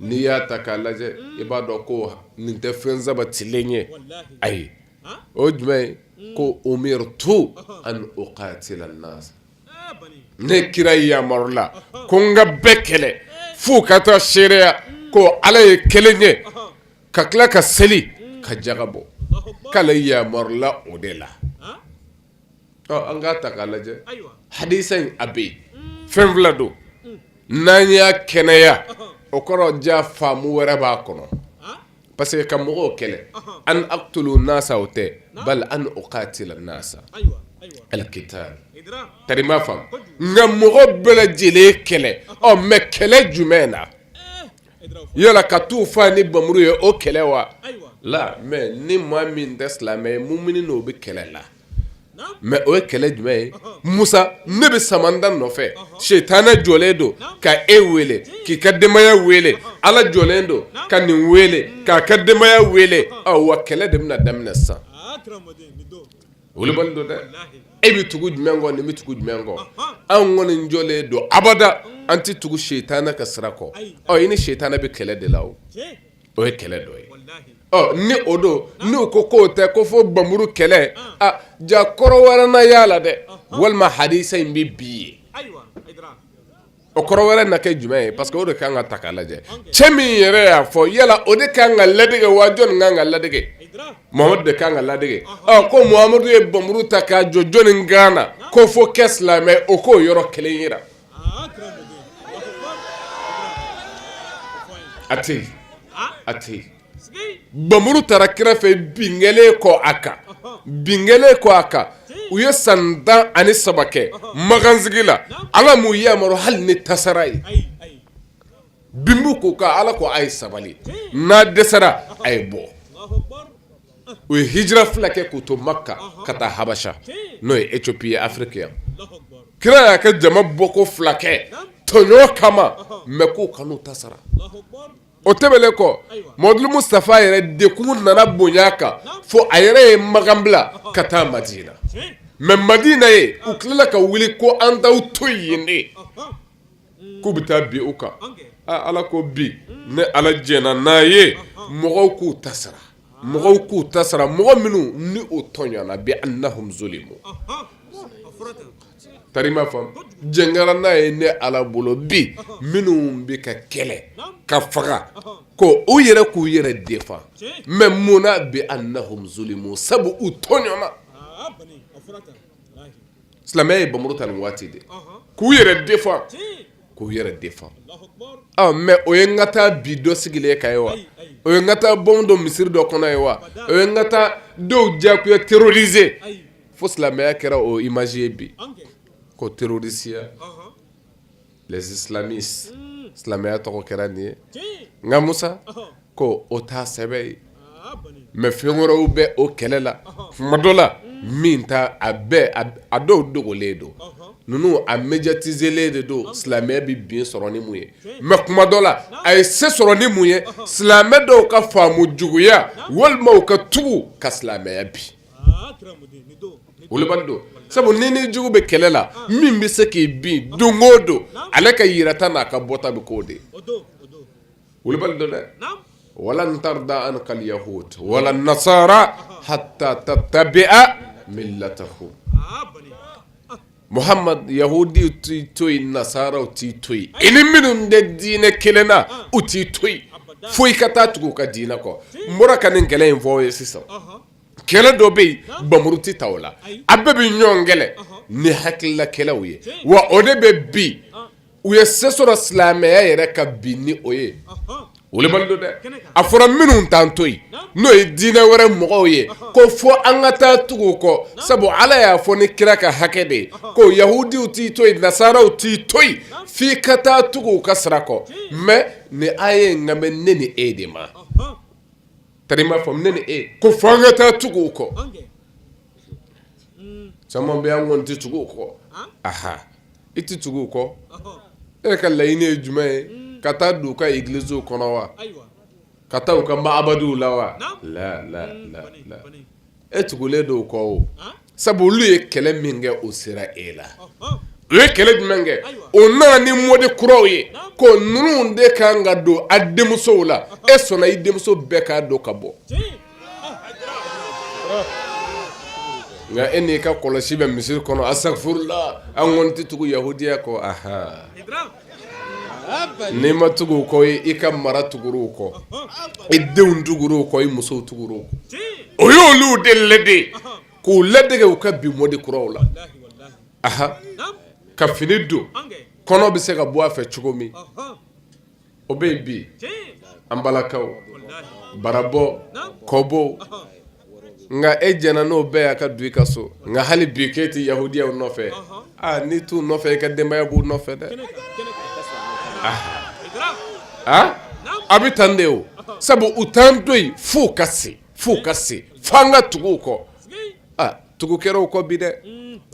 n'i y'a ta k'a lajɛ i b'a dɔn ko nin tɛ fɛn sabatilen ye ayi o jumɛn ye ko umirtu an uqatila an-nas ne kira yamarula ko n ka bɛɛ kɛlɛ f'u ka taa seereya ko ala ye kelen ye ka tila ka seli ka jaka bɔ k'ale yamarula o de la an k'a ta k'a lajɛ hadisa in a bɛ yen fɛn fila don n'an y'a kɛnɛya o kɔrɔ ja faamu wɛrɛ b'a kɔnɔ parce que ka mɔgɔw kɛlɛ an aqtulu nasa o tɛ bal an uqatila nasa al-qital tari ma faamu n ka mɔgɔ bɛɛ lajɛlen kɛlɛ ɔ mɛ kɛlɛ jumɛn na yala ka t'u faa ni bamuru ye o kɛlɛ wa la mɛ ni maa min tɛ silamɛ ye mumini n'o bɛ kɛlɛ la mɛ o ye kɛlɛ jumɛn ye musa ne bɛ samanda nɔfɛ setanɛ jɔlen don ka e wele k'i ka denbaya wele ala jɔlen don ka nin wele k'a ka denbaya wele wa kɛlɛ de bɛna daminɛ sisan Wolobali don dɛ e bɛ tugu jumɛn kɔ nin bɛ tugu jumɛn kɔ an kɔni jɔlen don abada an tɛ tugu setanɛ ka sira kɔ ɔ i ni setanɛ bɛ kɛlɛ de la o o ye kɛlɛ dɔ ye ɔ ni o don n'u ko k'o tɛ ko fo bamuru kɛlɛ ja kɔrɔ wɛrɛ na y'a la dɛ walima hadisa in bɛ bi ye O kɔrɔ wɛrɛ na kɛ jumɛn ye parce que o de kan ka ta ka lajɛ cɛ min yɛrɛ y'a fɔ yala o de ka kan ka ladege wa jɔn kan ka ladege muhamadu de kan ka ladege ko muhamadu ye bamuru ta k'a jɔ jɔnni kan na ko f'o kɛ silamɛ o k'o yɔrɔ kelen yira a tɛ a tɛ bamuru tara kira fɛ binkɛlen kɔ a kan binkɛlen kɔ a kan u ye san tan ani saba kɛ Makan sigi la ala m'u yamaru hali ni tasara ye bin b'u kan ala ko a ye sabali n'a dɛsɛra a ye bɔ u ye hijira fila kɛ k'u to Makan ka taa Habasha n'o ye Éthiopie ye Afrique yan kira y'a kɛ jama bɔ ko fila kɛ tɔɲɔ kama mais k'u kan'u ta sara o tɛmɛnen kɔ Mamadu Mustafa yɛrɛ degun nana bonya a kan fo a yɛrɛ ye Makan bila ka taa Madina mais Madina yen u tilala ka wuli ko an t'aw to yen dɛ k'u bɛ taa bin u kan Ala ko bi ne Ala jɛnna n'a ye mɔgɔw k'u ta sara. mɔgɔw k'u ta sara mɔgɔ minnu ni u tɔɲɔna bi annahum zulimu tari i m'a faamu jɛn kɛra n'a ye ne ala bolo bi minnu bɛ ka kɛlɛ ka faga ko u yɛrɛ k'u yɛrɛ défend mais munna bi annahum zulimu sabu u tɔɲɔna silamɛya ye bamuru ta nin waati de k'u yɛrɛ défend k'u yɛrɛ défend ɔ mais o ye n ka taa bin dɔ sigilen kan ye wa o ye n ka taa bom don misiri dɔ kɔnɔ ye wa o ye n ka taa dɔw diyagoya terroriser fo silamɛya kɛra o image ye bi ko terrorisiya les islamistes silamɛya tɔgɔ kɛra nin ye nka Musa ko o t'a sɛbɛ ye mais fɛn wɛrɛw bɛ o kɛlɛ la kuma dɔ la min ta a bɛɛ a dɔw dogolen don ninnu a médiatiselen de don silamɛya bɛ bin sɔrɔ ni mun ye mais kuma dɔ la a ye se sɔrɔ ni mun ye silamɛ dɔw ka faamu juguya walima u ka tugu ka silamɛya bin wolobali don sabu n'i ni jugu bɛ kɛlɛ la min bɛ se k'i bin don o don ale ka yirata n'a ka bɔta bɛ k'o de wolobali don dɛ walan tarda anka alyahud wala nasara hatta tattabi'a millatahum Muhamadu yahudi t'i to yen nasaraw t'i to yen i ni minnu tɛ diinɛ kelen na u t'i to yen fo i ka taa tugu u ka diinɛ kɔ n bɔra ka nin kɛlɛ in fɔ aw ye sisan kɛlɛ dɔ bɛ yen bamuru tɛ ta o la a bɛɛ bɛ ɲɔgɔn kɛlɛ ni hakilila kɛlɛw ye wa o de bɛ bi u ye se sɔrɔ silamɛya yɛrɛ kan bi ni o ye wolobali don dɛ a fɔra minnu t'an to yen n'o ye diinɛ wɛrɛ mɔgɔw ye ko fo an ka taa tugu u kɔ sabu ala y'a fɔ ni kira ka hakɛ de ye ko yahudiw t'i to yen nasaraw t'i to yen f'i ka taa tugu u ka sira kɔ mais nin aya in kan bɛ ne ni e de ma tari i m'a faamu ne ni e ko fo an ka taa tugu u kɔ caman bɛ an kɔni tɛ tugu u kɔ aa i tɛ tugu u kɔ e ka laɲini ye jumɛn ye ka taa don u ka églisew kɔnɔ wa ka taa u ka ma'abadiw la wa E tugulen don u kɔ o sabu olu ye kɛlɛ min kɛ o sera e la u ye kɛlɛ jumɛn kɛ o nana ni mɔdi kuraw ye ko ninnu de kan ka don a denmusow la e sɔnna i denmuso bɛɛ k'a don ka bɔ nka e n'i ka kɔlɔsi bɛ misiri kɔnɔ asafurula an kɔni tɛ tugu yahudiya kɔ aha N'i ma tugu u kɔ i ka mara tugur'u kɔ i denw tugur'u kɔ i musow tugur'u o y'olu de lade k'u ladege u ka bi mɔdi kuraw la aha ka fini don kɔnɔ bɛ se ka bɔ a fɛ cogo min o bɛ yen bi an balakaw barabɔ kɔbɔ nka e jɛna n'o bɛɛ y'a ka don i ka so nka hali bi k'e tɛ yahudiyaw nɔfɛ aa n'i t'u nɔfɛ i ka denbaya b'u nɔfɛ dɛ a a bɛ tan de o sabu u t'an to yen f'u ka se f'u ka se f'an ka tugu u kɔ tugu kɛra u kɔ bi dɛ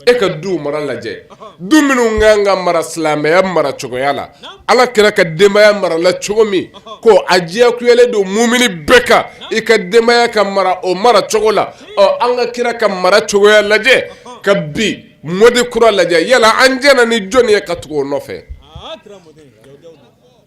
e ka du mara lajɛ du minnu ka kan ka mara silamɛya mara cogoya la Ala kira ka denbaya marala cogo min ko a diyagoyalen don mumini bɛɛ kan i ka denbaya ka mara o mara cogo la ɔ an ka kira ka mara cogoya lajɛ ka bi mɔdi kura lajɛ yala an jɛna ni jɔni ye ka tugu o nɔfɛ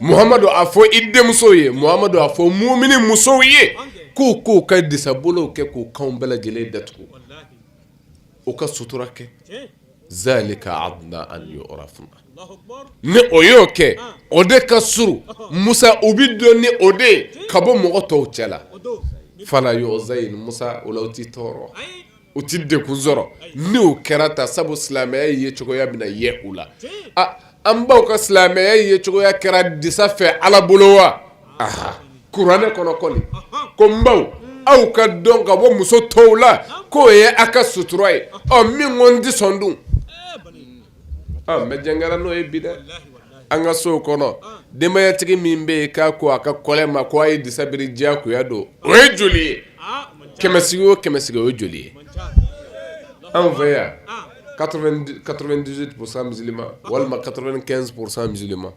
Muhamadu a fɔ i denmusow ye Muhamadu a fɔ muumini musow ye k'u k'u ka disabolow kɛ k'u kanw bɛɛ lajɛlen datugu walahi u ka sutura kɛ tiɲɛ zaalika adnaa an yu'urafna Alahu akibaru ni o y'o kɛ an o de ka surun ɔhɔ Musa u bi dɔn ni o de ye ka bɔ mɔgɔ tɔw cɛla o don falaa yuuzayin Musa o la u ti tɔɔrɔ ayi U tɛ degun sɔrɔ n'o kɛra ta sabu silamɛya ye cogoya min ye u la an baw ka silamɛya ye cogoya kɛra disa fɛ ala bolo wa a kuranɛ kɔnɔ kɔni ko n baw aw ka dɔn ka bɔ muso tɔw la k'o ye aw ka sutura ye ɔ min ko n tɛ sɔn dun Mɛ jɛngɛra n'o ye bi dɛ an ka so kɔnɔ denbayatigi min bɛ yen k'a ko a ka kɔlɛ ma ko a ye disa biri diyagoya don o ye joli ye kɛmɛsigi o kɛmɛsigi o ye joli ye anw fɛ yan quatre-vingt-dix-huit pour cent musulman walima quatre-vingt-quinze pour cent musulman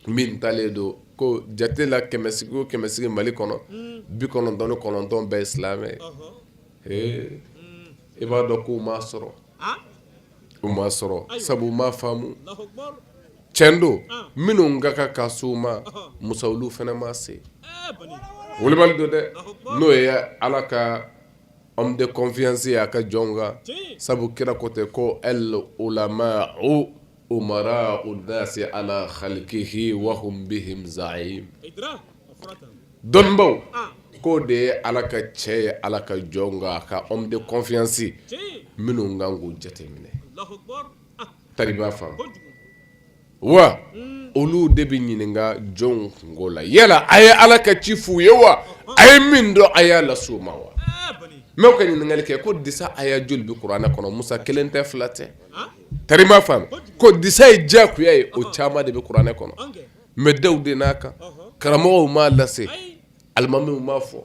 min talen don ko jate la kɛmɛsigi o kɛmɛsigi Mali kɔnɔ bi kɔnɔntɔn ni kɔnɔntɔn bɛɛ ye silamɛ ye i b'a dɔn k'o ma sɔrɔ o ma sɔrɔ sabu u m'a faamu tiɲɛ don minnu ka kan ka s'u ma musa olu fana ma se wulibali don dɛ n'o ye ala ka homme de confiance ye a ka jɔnw kan sabu kira ko ten ko al ulama'u umara'u nnasi ala khalqihi wa hum bihim za'im dɔnnibaw k'o de ye ala ka cɛ ye ala ka jɔnw kan a ka homme de confiance minnu kan k'u jateminɛ tari m'a faamu wa olu de bɛ ɲininka jɔnw kunko la yala a ye ala ka ci f'u ye wa a ye min dɔn a y'a las'u ma wa mɛ o ka ɲininkali kɛ ko disa aya joli bɛ kuranɛ kɔnɔ musa kelen tɛ fila tɛ tari m'a faamu ko disa ye diyagoya ye o caman de bɛ kuranɛ kɔnɔ mɛ da de n'a kan karamɔgɔw m'a lase alimamiw m'a fɔ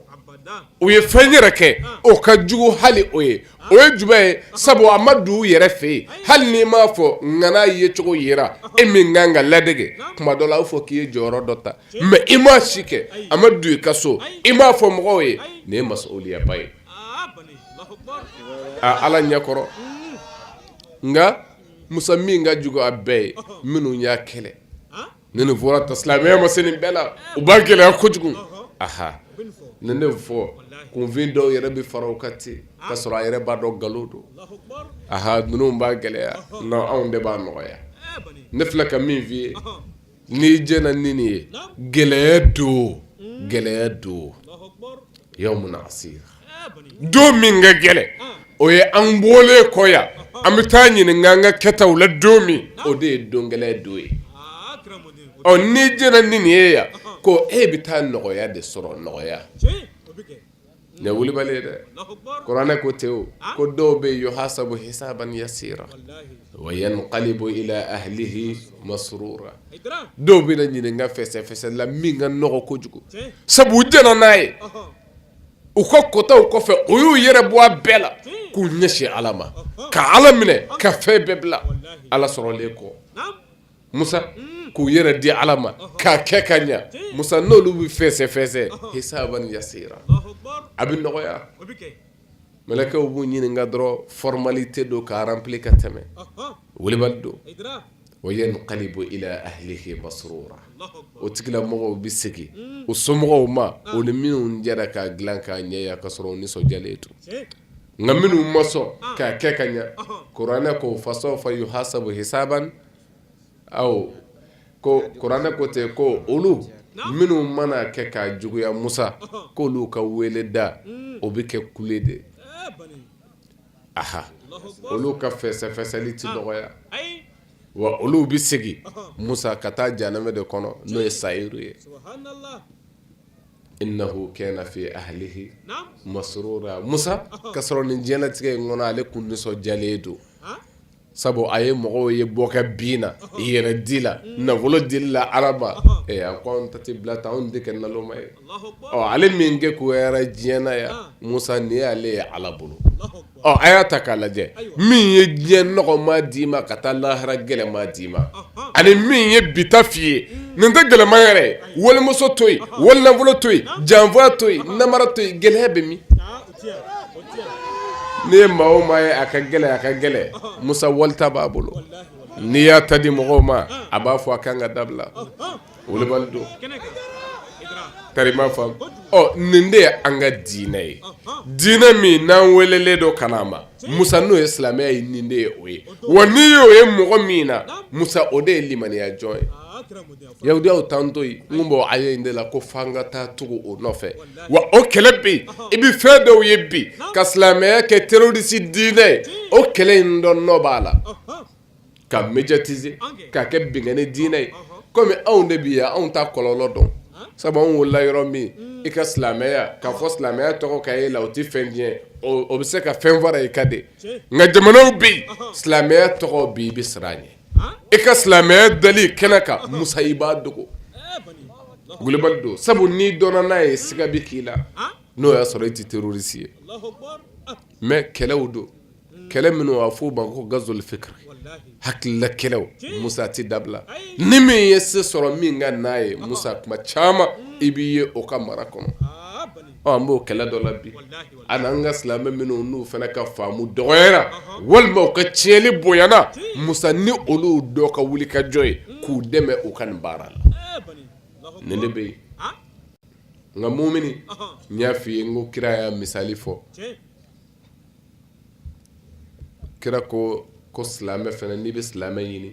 u ye fɛn yɛrɛ kɛ o ka jugu hali o ye o ye juguba ye sabu a ma don u yɛrɛ fɛ yen hali n'i m'a fɔ ŋana ye cogo yira e min kan ka ladege tuma dɔ la a b'a fɔ k'i ye jɔyɔrɔ dɔ ta mɛ i ma si kɛ a ma don i ka so i m'a fɔ mɔgɔw ye nin ye masuliyaba ye ala ɲɛkɔrɔ nka musa min ka jugu a bɛɛ ye minnu y'a kɛlɛ ni nin fɔra ta silamɛya ma se nin bɛɛ la u b'a gɛlɛya kojugu aha ni ne fɔ kunfin dɔw yɛrɛ bɛ fara o kan ten ka sɔrɔ a yɛrɛ b'a dɔn nkalon don aha ninnu b'a gɛlɛya non anw de b'a nɔgɔya ne filɛ ka min f'i ye n'i jɛnna ni nin ye gɛlɛya don gɛlɛya don yawmun asir don min ka gɛlɛn o ye an bɔlen kɔ yan an bɛ taa ɲininka an ka kɛtaw la don min o de ye don gɛlɛya don ye ɔ n'i jɛnna ni nin ye yan ko e bɛ taa nɔgɔya de sɔrɔ nɔgɔya Nin ye wulibali ye dɛ, Alahu akibaru, kuranɛ ko ten o, ko dɔw bɛ yen yuhasabu hisaban yasira wa yanqalibu ila ahlihi masrura dɔw bɛna ɲininka fɛsɛfɛsɛ la min ka nɔgɔ kojugu, tiɲɛ, sabu u diɲɛna n'a ye, ɔhɔ, u ka kotaw kɔfɛ u y'u yɛrɛ bɔ a bɛɛ la k'u ɲɛsin Ala ma, ɔhɔ, ka Ala minɛ ka fɛn bɛɛ bila Ala sɔrɔlen kɔ, naamu musa k'u yɛrɛ di ala ma k'a kɛ ka ɲɛ musa n'olu bɛ fɛsɛfɛsɛ hisaban yasira a bɛ nɔgɔya mɛlɛkɛw b'u ɲininka dɔrɔn formalité don k'a remplir ka tɛmɛ wulibali don wa yanqalibu ila ahlihi masrura o tigilamɔgɔw bɛ segin o somɔgɔw ma o ni minnu jɛra k'a dilan k'a ɲɛ ka sɔrɔ u nisɔndiyalen don nka minnu ma sɔn k'a kɛ ka ɲɛ kuranɛ ko fasawfa yuhasabu hisaban aw ko kuranɛ ko ten ko olu minnu mana kɛ ka juguya musa k'olu ka wele da o bɛ kɛ kule de aha olu ka fɛsɛfɛsɛli tɛ nɔgɔya wa olu bɛ segin musa ka taa jahanama de kɔnɔ n'o ye sayiru ye innahu kana fi ahlihi masrura musa ka sɔrɔ nin diɲɛlatigɛ in kɔnɔ ale kun nisɔndiyalen don sabu a ye mɔgɔw ye bɔkɛ bin na i yɛrɛ di la nafolo di la araba a ko an ta tɛ bila tan anw tɛ kɛ naloma ye ɔ ale min kegunyara diɲɛ na yan musa nin y'ale ye ala bolo Ɔ a y'a ta k'a lajɛ min ye diɲɛ nɔgɔman d'i ma ka taa lahara gɛlɛman d'i ma ani min ye bi ta f'i ye nin tɛ gɛlɛman yɛrɛ walimuso to yen wali nafolo to yen janfa to yen namara to yen gɛlɛya bɛ min n'i ye maa o maa ye a ka gɛlɛn a ka gɛlɛn musa wali ta b'a bolo n'i y'a ta di mɔgɔw ma a b'a fɔ a ka kan ka dabila Wulibali don tari m'a faamu nin de ye an ka diinɛ ye diinɛ min n'an welelen don ka na ma musa n'o ye silamɛya ye nin de ye o ye wa n'i ye o ye mɔgɔ min na musa o de ye limaniya jɔn ye yahudiyaw t'an to yen n bɔ a ye in de la ko f'an ka taa tugu o nɔfɛ wa o kɛlɛ bɛ yen i bɛ fɛn dɔw ye bi ka silamɛya kɛ terroriste diinɛ ye o kɛlɛ in dɔ nɔ b'a la k'a médiatiser k'a kɛ binkanni diinɛ ye kɔmi anw de bi yan anw t'a kɔlɔlɔ dɔn sabu anw wolola yɔrɔ min i ka silamɛya k'a fɔ silamɛya tɔgɔ ka ye i la o tɛ fɛn tiɲɛ o bɛ se ka fɛn fara i kan de nka jamanaw bɛ yen silamɛya tɔgɔ bɛ i bɛ siran a ɲɛ i ka silamɛya dali kɛnɛ kan musa i b'a dogo wulibali don sabu n'i dɔnna n'a ye siga bɛ k'i la n'o y'a sɔrɔ i tɛ terroriste ye mais kɛlɛw don kɛlɛ minnu b'a fɔ o ma ko gazwul fikri hakilila kɛlɛ musa tɛ dabila ni min ye se sɔrɔ min kan a ye musa tuma caman i b'i ye o ka mara kɔnɔ an b'o kɛlɛ dɔ la bi ani an ka silamɛ minnu n'u fana ka faamu dɔgɔyara walima u ka tiɲɛni bonyana musa ni olu dɔ ka wuli ka jɔ yen k'u dɛmɛ u ka nin baara la nin de bɛ yen nka mumini n y'a fɔ i ye ko kira y'a misali fɔ kira ko silamɛ fana n'i bɛ silamɛ ɲini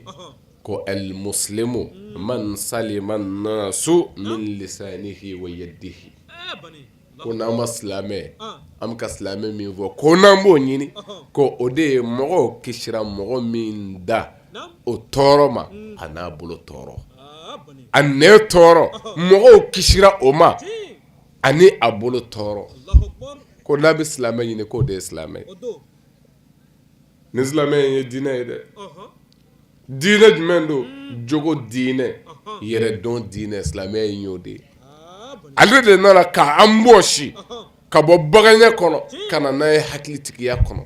ko al-muslimu man salima an-nasu min lisanihi wa yadihi ko n'an ma silamɛ an bɛ ka silamɛ min fɔ ko n'an b'o ɲini ko o de ye mɔgɔw kisira mɔgɔ min da o tɔɔrɔ ma a n'a bolo tɔɔrɔ a nɛn tɔɔrɔ mɔgɔw kisira o ma ani a bolo tɔɔrɔ ko n'a bɛ silamɛ ɲini k'o de ye silamɛ ye ni silamɛya ye dinɛ ye dɛ dinɛ jumɛn don jogo dinɛ yɛrɛ dɔn dinɛ silamɛya y'o de ye ale de nana k'an bɔsi ka bɔ baganya kɔnɔ ka na n'an ye hakilitigiya kɔnɔ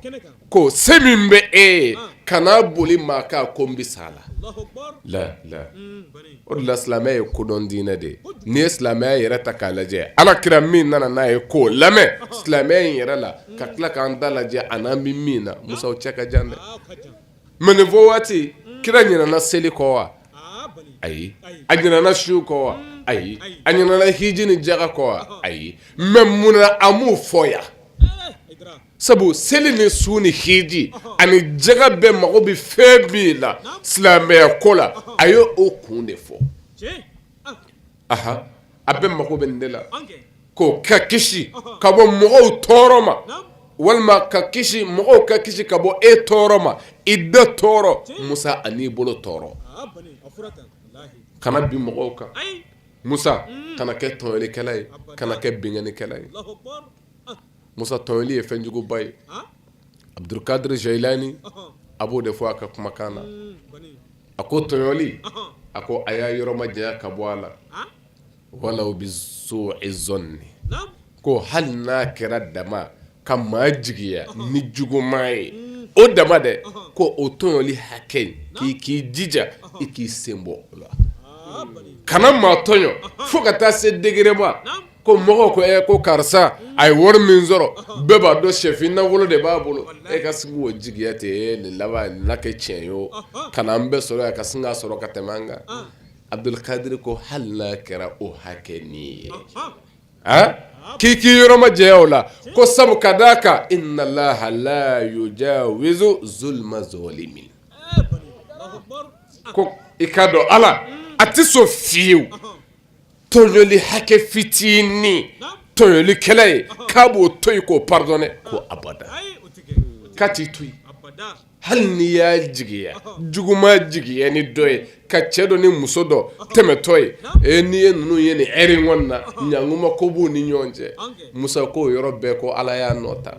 Ko se min bɛ e ye kan'a boli maa kan ko n bɛ s'a la o de la silamɛya ye kodɔn diinɛ de ye n'i ye silamɛya yɛrɛ ta k'a lajɛ ala kira min nana n'a ye k'o lamɛn silamɛya in yɛrɛ la ka tila k'an ta lajɛ a n'an bɛ min na musa o cɛ ka jan dɛ mɛ nin fɔ waati kira ɲinɛna seli kɔ wa ayi a ɲinɛna su kɔ wa ayi a ɲinɛna hiji ni jaka kɔ wa ayi mɛ munna a m'o fɔ yan sabu seli ni su ni hiji ani jaga bɛɛ mago bɛ fɛn min na silamɛya ko la a y'o kun de fɔ aa a bɛɛ mago bɛ nin de la ko ka kisi ka bɔ mɔgɔw tɔɔrɔ ma walima ka kisi mɔgɔw ka kisi ka bɔ e tɔɔrɔ ma i da tɔɔrɔ musa an'i bolo tɔɔrɔ kana bin mɔgɔw kan musa kana kɛ tɔɲɔlikɛla ye kana kɛ binkannikɛla ye Musa tɔɲɔli ye fɛn juguba ye. Han! Abudulu kadiri Jayilani. Ɔnhɔn! A b'o de fɔ a ka kumakan na. Uun kɔni! A ko tɔɲɔli. Ɔnhɔn! A ko a y'a yɔrɔ majanya ka bɔ a la. Walaw bi su'i zɔnni. ko hali n'a kɛra dama ka maa jigiya. Ɔnhɔn! Ni juguman ye. Uun! O dama dɛ. Ɔnhɔn! Ko o tɔɲɔli hakɛ in. Naamu! K'i k'i jija. Ɔnhɔn! I k'i sen bɔ o la. Haa bani! Kana maa tɔɲɔ. Ɔnhɔn! Fo ka taa se degré ma. Naamu! Ko mɔgɔw ko ko karisa a ye wari min sɔrɔ bɛɛ b'a dɔn shɛfin nafolo de b'a bolo e ka sigi o jigiya ten nin laban na kɛ tiɲɛ ye o kana an bɛɛ sɔrɔ ka sin ka sɔrɔ ka tɛmɛ an kan abudulu kadiri ko hali n'a kɛra o hakɛ nin ye a k'i k'i yɔrɔ majanya o la ko sabu ka d'a kan inna allaha la yujawizu zulma zalimin ko i ka dɔn ala a tɛ sɔn fiyewu tɔɲɔli hakɛ fitinin tɔɲɔlikɛla ye k'a b'o to yen k'o pardonner ko abada k'a t'i to yen hali n'i y'a jigiya juguman jigiya ni dɔ ye ka cɛ dɔ ni muso dɔ tɛmɛtɔ ye e n'i ye ninnu ye nin ɛri in kɔnɔna na ɲankuma ko b'u ni ɲɔgɔn cɛ musa k'o yɔrɔ bɛɛ ko ala y'a nɔ ta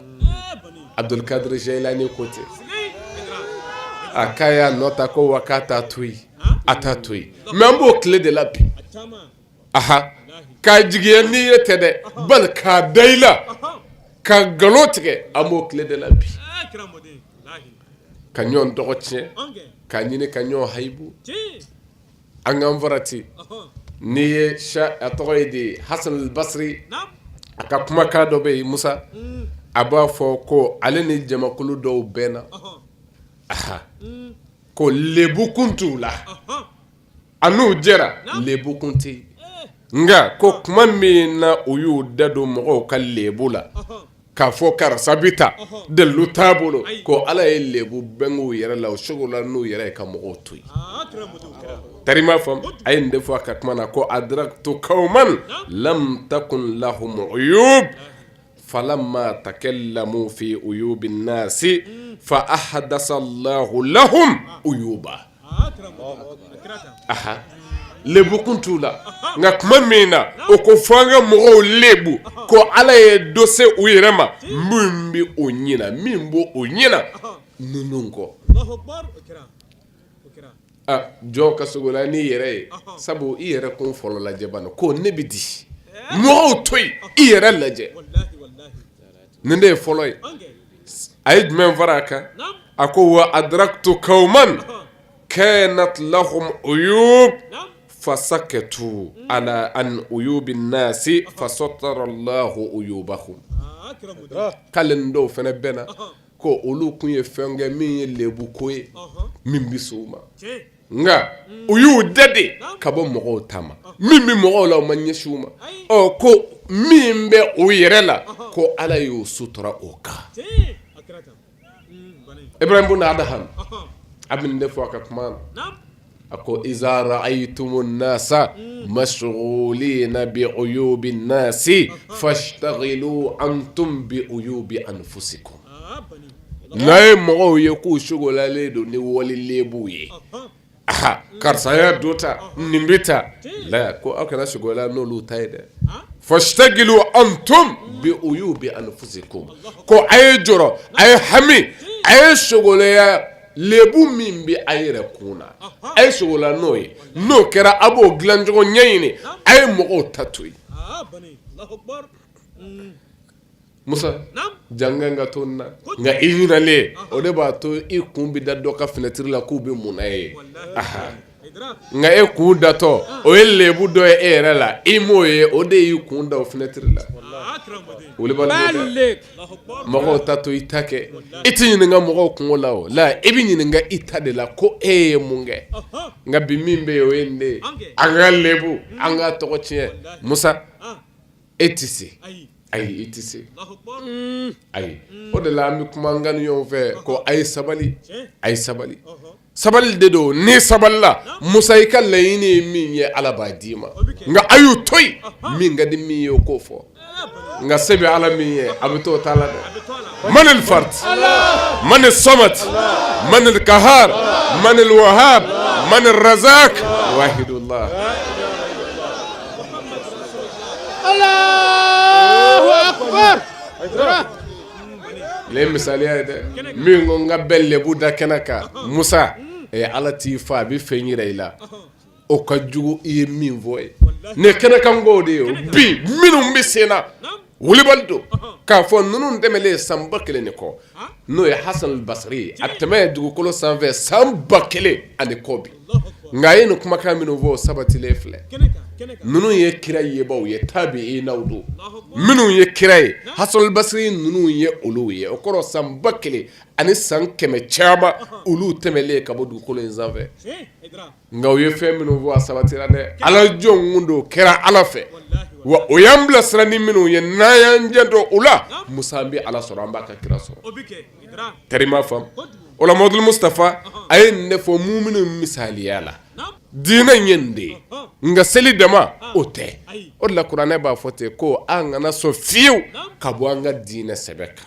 abudulu kadiri jayilani ko ten a k'a y'a nɔ ta ko wa k'a taa to yen a t'a to yen mɛ an b'o tile de la bi ahan ka jigiya ni ye tɛ dɛ bali k'a da i la ka nkalon tigɛ an b'o tile de la bi ka ɲɔn tɔgɔ tiɲɛ k'a ɲini ka ɲɔn hayibu an k'an farati n'i ye sa a tɔgɔ ye di Hassan al Basri naamu a ka kumakan dɔ bɛ yen Musa uun a b'a fɔ ko ale ni jamakulu dɔw bɛnna ɔhɔɔ ahaa uun ko lɛbu kun t'u la a n'u jɛra lɛbu kun tɛ nka ko kuma min na u y'u da don mɔgɔw ka lɛbu la k'a fɔ karisa bɛ tan dalilu t'a bolo ko ala ye lɛbu bange u yɛrɛ la u sogola n'u yɛrɛ ye ka mɔgɔw to yen tari m'a faamu a ye nin de fɔ a ka kuma na ko adraktu qawman lam takun lahum uyub falamma takallamu fi uyubi nasi fa ahdasa llahu lahum uyuba lɛbu kun t'u la nka kuma min na u ko f'an ka mɔgɔw lɛbu ko ala ye dɔ se u yɛrɛ ma min bɛ u ɲina min b'u ɲina ninnu kɔ Jɔn ka sogola n'i yɛrɛ ye sabu i yɛrɛ kun fɔlɔ lajɛ bani ko ne bɛ di mɔgɔw to yen i yɛrɛ lajɛ nin de ye fɔlɔ ye a ye jumɛn fara a kan a ko wa adraktu qawman kanat lahum uyub fasakatu ala an uyubi nasi fasatara llahu uyubahum k'ale ni dɔw fana bɛnna ko olu kun ye fɛn kɛ min ye lɛbu ko ye min bɛ s'u ma nka u y'u da de ka bɔ mɔgɔw ta ma min bɛ mɔgɔw la u ma ɲɛsin u ma ɔ ko min bɛ u yɛrɛ la ko ala y'o sutura u kan Ibrahim bun Adham a bɛ nin de fɔ a ka kuma na a ko iza ra'aytumu nasa mashgulina bi uyubi nasi fashtagilu antum bi uyubi anfusikum n'a ye mɔgɔw ye k'u sogolalen don ni wali lɛbu ye a karisa y'a don tan nin bɛ tan la ko aw kana sogola n'olu ta ye dɛ fashtagilu antum bi uyubi anfusikum ko a ye jɔrɔ a ye hami a ye sogola ya lɛbu min bɛ a yɛrɛ kun na a ye sogola n'o ye n'o kɛra a b'o dilancogo ɲɛɲini a ye mɔgɔw ta to yen musa jan kan ka to na nka i ɲinalen o de b'a to i kun bɛ da dɔ ka finɛtiri la k'u bɛ mun na yen nka e kun datɔ o ye lɛbu dɔ ye e yɛrɛ la e m'o ye o de y'i kun da o fenɛtiri la mɔgɔw ta to i ta kɛ e tɛ ɲininka mɔgɔw kunko la o la e bɛ ɲininka i ta de la ko e ye mun kɛ nka bi min bɛ yen o ye nin de ye an ka lɛbu an ka tɔgɔ tiɲɛ Musa. e tɛ se ayi e tɛ se ayi o de la an bɛ kuma k'a ɲini ɲɔgɔn fɛ ko a ye sabali a ye sabali sabali de don n'i sabalila musa i ka laɲini ye min ye ala b'a d'i ma nka a y'u to yen min ka di min ye o k'o fɔ nka se bɛ ala min ye a bɛ to a ta la dɛ man al-fard man as-samad man al-qahhar man al-wahhab man ar-razaq wahidullah ye misaliya ye dɛ min ko n ka bɛɛ lɛbu da kɛnɛ kan musa ɛ ala t'i fa a bɛ fɛn jira i la o ka jugu i ye min fɔ ye ne kɛnɛ kan ko de ye bi minnu bɛ sen na wulibali don k'a fɔ ninnu tɛmɛlen ye san ba kelen ni kɔ N'o ye Hasan al-Basri ye a tɛmɛ ye dugukolo sanfɛ san ba kelen ani kɔ bi nka a ye nin kumakan minnu fɔ sabatilen filɛ ninnu ye kira yebaw ye tabi'inaw don minnu ye kira ye Hasan al-Basri ninnu ye olu ye o kɔrɔ san ba kelen ani san kɛmɛ caman olu tɛmɛlen ka bɔ dugukolo in sanfɛ nka u ye fɛn minnu fɔ a sabatira dɛ Ala jɔn ɲumanw don u kɛra Ala fɛ wa u y'an bilasira ni minnu ye n'an y'an janto u la Musa an bɛ Ala sɔrɔ an b'a ka kira sɔrɔ tari i m'a faamu o la Mamadul Mustapa a ye nin de fɔ muminu misaliya la diinɛ in ye nin de ye nka seli dama o tɛ o de la kuranɛ b'a fɔ ten ko an kana sɔn fiyewu ka bɔ an ka diinɛ sɛbɛ kan.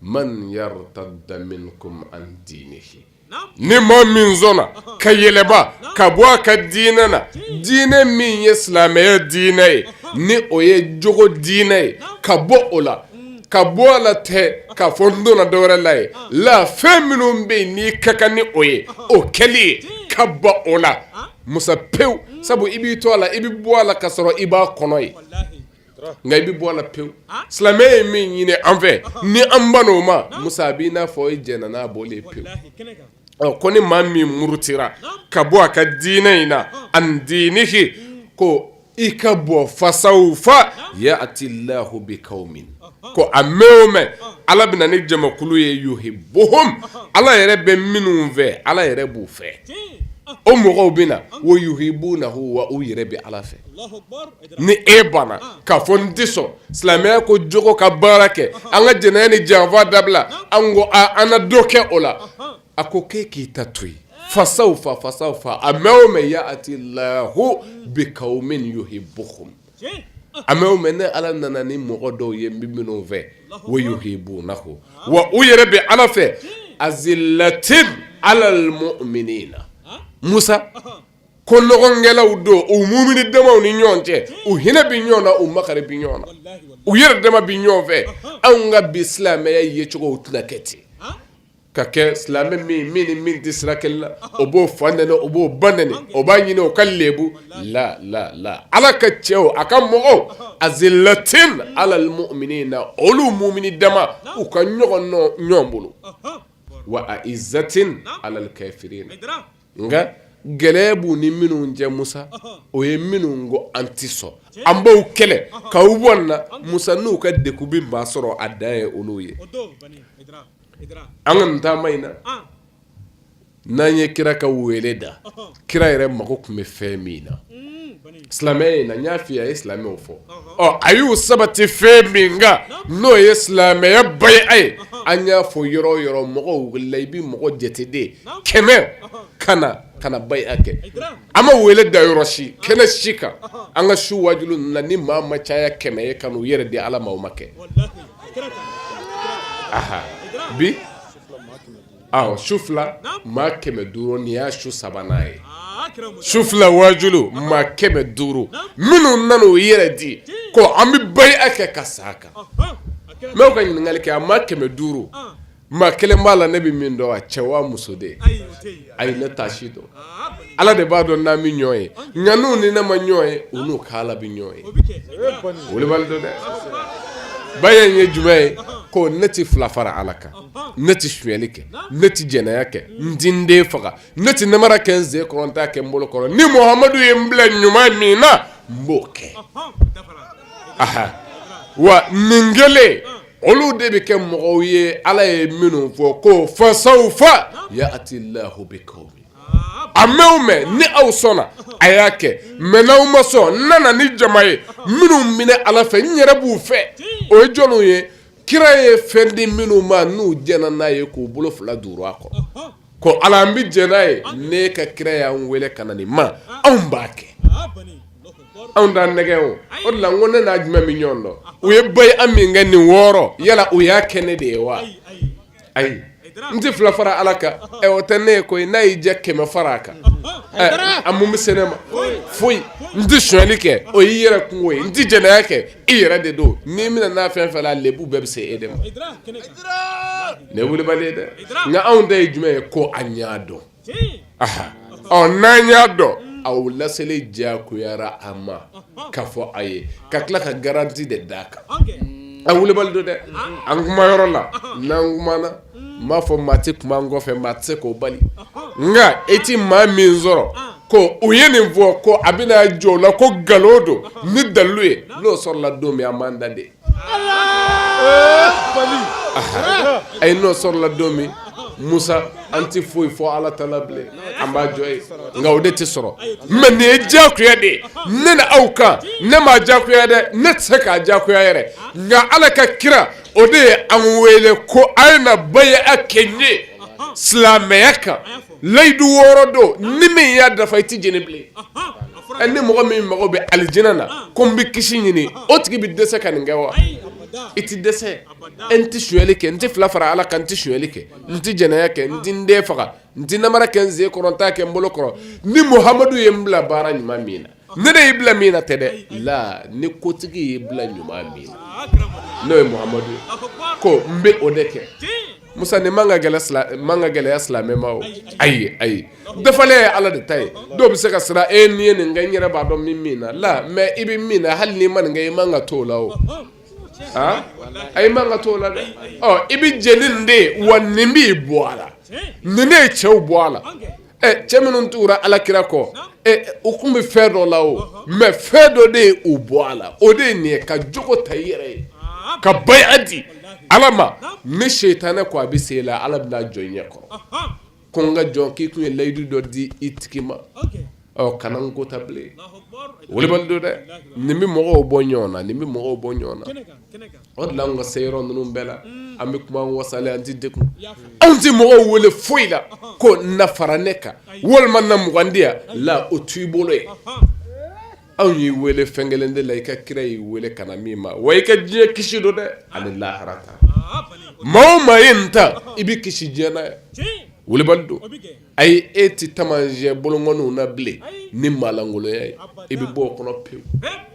man yartadda minkum an dinihi ni maa min sɔnna ka yɛlɛba ka bɔ a ka diinɛ na diinɛ min ye silamɛya diinɛ ye ni o ye jogo diinɛ ye ka bɔ o la ka bɔ a la tɛ k'a fɔ n donna dɔwɛrɛ la ye la fɛn minnu bɛ yen n'i ka kan ni o ye o kɛli ye ka bɔ o la musa pewu sabu i b'i to a la i bɛ bɔ a la ka sɔrɔ i b'a kɔnɔ ye nka i bɛ bɔ a la pewu silamɛya ye min ɲini an fɛ ni an ban o ma musa a b'i n'a fɔ i jɛnna n'a bɔ pewu ɔ ko ni maa min murutira ka bɔ a ka diinɛ in na an dinihi ko i ka bɔ fasawfa ya'ti llahu biqawmin ko a mɛn o mɛn ala bɛ na ni jamakulu ye yuhibbuhum ala yɛrɛ bɛ minnu fɛ ala yɛrɛ b'u fɛ o mɔgɔw bɛ na wa yuhibbunahu wa u yɛrɛ bɛ ala fɛ Ni e banna ka fɔ n tɛ sɔn silamɛya ko jogo ka baara kɛ an ka jɛnɛ ni janfa dabila an ko an ka dɔ kɛ o la a ko ko e k'i ta to fasawfa fasawfa a mɛn o mɛn ya'ti Allahu biqawmin yuhibbuhum a mɛn o mɛn ne ala nana ni mɔgɔ dɔw ye n bɛ minnu fɛ wa yuhibbunahu wa u yɛrɛ bɛ ala fɛ azillatin alal mu'minina musa ko ɲɔgɔnkɛlaw don u mumini damaw ni ɲɔgɔn cɛ u hinɛ bɛ ɲɔgɔn na u makari bɛ ɲɔgɔn na u yɛrɛ dama bɛ ɲɔgɔn fɛ anw ka bi silamɛya yecogo tɛna kɛ ten ka kɛ silamɛ min min ni min tɛ sira kelen la o b'o fa nɛni o b'o ba nɛni o b'a ɲini o ka lɛbu la ala ka cɛw a ka mɔgɔw azillatin alal mu'minina olu mumini dama u ka nɔgɔn ɲɔgɔn bolo wa a'izzatin alal kafirina nka gɛlɛya b'u ni minnu cɛ musa o ye minnu ko an tɛ sɔn an b'aw kɛlɛ k'aw bɔ nin na musa n'u ka degun bɛ maa sɔrɔ a dan ye olu ye an ka nin taama in na n'an ye kira ka wele da kira yɛrɛ mako tun bɛ fɛn min na Silamɛya in na n y'a f'i ye a ye silamɛw fo a y'u sabati fɛn min kan n'o ye silamɛya bai'a ye an y'a fɔ yɔrɔ o yɔrɔ mɔgɔw wulila i bɛ mɔgɔ jateden kɛmɛ ka na ka bai'a kɛ an ma wele da yɔrɔ si kɛnɛ si kan an ka su wajuli na ni maa ma caya kɛmɛ ye ka n'u yɛrɛ di ala ma o ma kɛ bi Ɔ su fila maa kɛmɛ duuru nin y'a su sabanan ye su fila wajuli maa kɛmɛ duuru minnu nana u yɛrɛ di ko an bɛ bai'a kɛ ka sa a kan n b'o ka ɲininkali kɛ a maa kɛmɛ duuru maa kelen b'a la ne bɛ min dɔn a cɛ wa muso de ayi ne t'a si dɔn ala de b'a dɔn n'an bɛ ɲɔgɔn ye nka n'u ni ne ma ɲɔgɔn ye u n'u ka ala bɛ ɲɔgɔn ye wulibali don dɛ bai'a in ye jumɛn ye ko ne tɛ fila fara ala kan ne tɛ sonyali kɛ ne tɛ jɛnɛya kɛ n tɛ n den faga ne tɛ namara kɛ n sen kɔrɔ n t'a kɛ n bolo kɔrɔ ni muhamadu ye n bila ɲuman min na n b'o kɛ aa wa nin kɛlen olu de bɛ kɛ mɔgɔw ye ala ye minnu fɔ ko fasawfa ya'ti Allahu biqawmin a mɛn ni aw sɔnna a y'a kɛ mɛ n' aw ma sɔn n nana ni jama ye minnu bɛ ne ala fɛ n yɛrɛ b'u fɛ o ye jɔnw ye kira ye fɛn di minnu ma n'u jɛnna n'a ye k'u bolo fila duuru a kɔrɔ ko ala an bɛ jɛ n'a ye ne ka kira y'an weele ka na nin ma anw b'a kɛ anw t'an nɛgɛ o de la ko ne n'a jumɛn bɛ ɲɔgɔn dɔn u ye bai'a min kɛ nin wɔɔrɔ yala u y'a kɛ ne de ye wa ayi n tɛ fila fara ala kan o tɛ ne ye koyi n'a y'i diya kɛmɛ fara a kan a mun bɛ se ne ma foyi n tɛ sonyali kɛ o y'i yɛrɛ kunko ye n tɛ jɛnɛya kɛ i yɛrɛ de don n'i minɛna a fɛn fɛn la lebu bɛɛ bɛ se e de ma nin ye wulibali ye dɛ nka anw ta ye jumɛn ye ko an y'a dɔn ɔ n'an y'a dɔn a laseli diyagoyara an ma k'a fɔ a ye ka tila ka garanti de d'a kan a wulibali don dɛ an kuma yɔrɔ la n'an kumana n m'a fɔ maa tɛ kuma an kɔfɛ maa tɛ se k'o bali nka e tɛ maa min sɔrɔ ko u ye nin fɔ ko a bɛna jɔ o la ko nkalon don ni dalilu ye n'o sɔrɔla don min an b'an da de ayi n'o sɔrɔla don min musa an tɛ foyi fɔ ala ta la bilen an b'a jɔ ye nka o de tɛ sɔrɔ mɛ nin ye diyagoya de ye ne ni aw kan ne m'a diyagoya dɛ ne tɛ se k'a diyagoya yɛrɛ nka ala ka kira o de ye an wele ko a ye na bay'a kɛ n ye silamɛya kan layidu wɔɔrɔ don ni min y'a dafa i tɛ jɛni bilen ɛ ni mɔgɔ min mago bɛ alijinɛ na ko n bɛ kisi ɲini o tigi bɛ dɛsɛ ka nin kɛ wa i tɛ dɛsɛ e n tɛ sonyali kɛ n tɛ fila fara ala kan n tɛ sonyali kɛ n tɛ jɛnɛya kɛ n tɛ n den faga n tɛ namara kɛ n sen kɔrɔ n t'a kɛ n bolo kɔrɔ ni muhamadu ye n bila baara ɲuman min na Ne de y'i bila min na tɛ dɛ la ni kotigi y'i bila ɲuman min na n'o ye muhamadu ye ko n bɛ o de kɛ musa nin man ka man ka gɛlɛya silamɛ ma o ayi ayi dafalen ye ala de ta ye dɔw bɛ se ka siran e ni n ye nin kɛ n yɛrɛ b'a dɔn min min na la mɛ i bɛ min na hali n'i ma nin kɛ i man ka to o la o a ayi i man ka to o la dɛ i bɛ jɛ ni nin de ye wa nin b'i bɔ a la nin de ye cɛw bɔ a la ɛ cɛ minnu tugura alakira kɔ ɛ u tun bɛ fɛn dɔ la o mɛ fɛn dɔ de ye u bɔ a la o de ye nin ye ka jogo ta i yɛrɛ ye ka bay'a di Ala ma ni sitanɛ ko a bɛ se i la Ala bɛna jɔ i ɲɛ kɔrɔ, anhan, ko n ka jɔn k'i tun ye layidu dɔ di i tigi ma, ok, ɔ kana n ko ta bilen, o wulibali don dɛ, nin bɛ mɔgɔw bɔ ɲɔgɔn na, nin bɛ mɔgɔw bɔ ɲɔgɔn na O de la an ka se yɔrɔ ninnu bɛɛ la an bɛ kuma wasalen an tɛ degun anw tɛ mɔgɔw wele foyi la ko na fara ne kan walima na mugandenya la o t'i bolo ye anw y'i weele fɛn kelen de la i ka kira y'i weele ka na min ma wa i ka diɲɛ kisi don dɛ ani lahara ta maa o maa ye nin ta i bɛ kisi diɲɛ na ayi wulibali don ayi e tɛ taamasiyɛn bolonkɔniw na bilen ni maalankolonya ye i bɛ bɔ o kɔnɔ pewu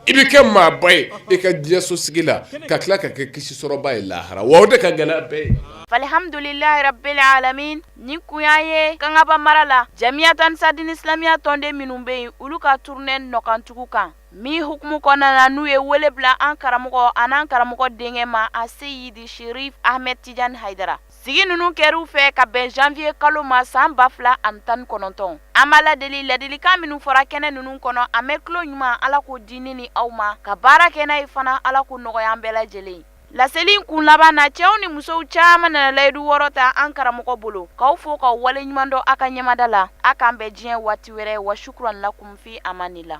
i bɛ kɛ maaba ye i ka diɲɛso sigi la ka tila ka kɛ kisi sɔrɔbaa ye lahara wa o de ka gɛlɛn bɛɛ ye alihamdulilahi rabili alamina nin kun y'a ye kangaba mara la jamiyatu ansar dini isilamiya tɔnden minnu bɛ yen olu ka turune nɔkantugu kan min hukumu kɔnɔna na n'u ye wele bila an karamɔgɔ ani an karamɔgɔ denkɛ ma a seyidi sɛrifu amɛdi tijani haydara sigi ninnu kɛra u fɛ ka bɛn janvier kalo ma san ba fila ani tan ni kɔnɔntɔn an b'ala deli ladilikan minnu fɔra kɛnɛ ninnu kɔnɔ a mɛn tulo ɲuman ala k'o di ne ni aw ma ka baara kɛ n'a ye fana ala k'o nɔgɔya an bɛɛ lajɛlen laseli in kun laban na cɛw ni musow caman nana layidu wɔɔrɔ ta an karamɔgɔ bolo k'aw fo k'aw waleɲuman dɔn a ka ɲɛmada la a k'an bɛn diɲɛ waati wɛrɛ wa shukuran lakum fi amanillah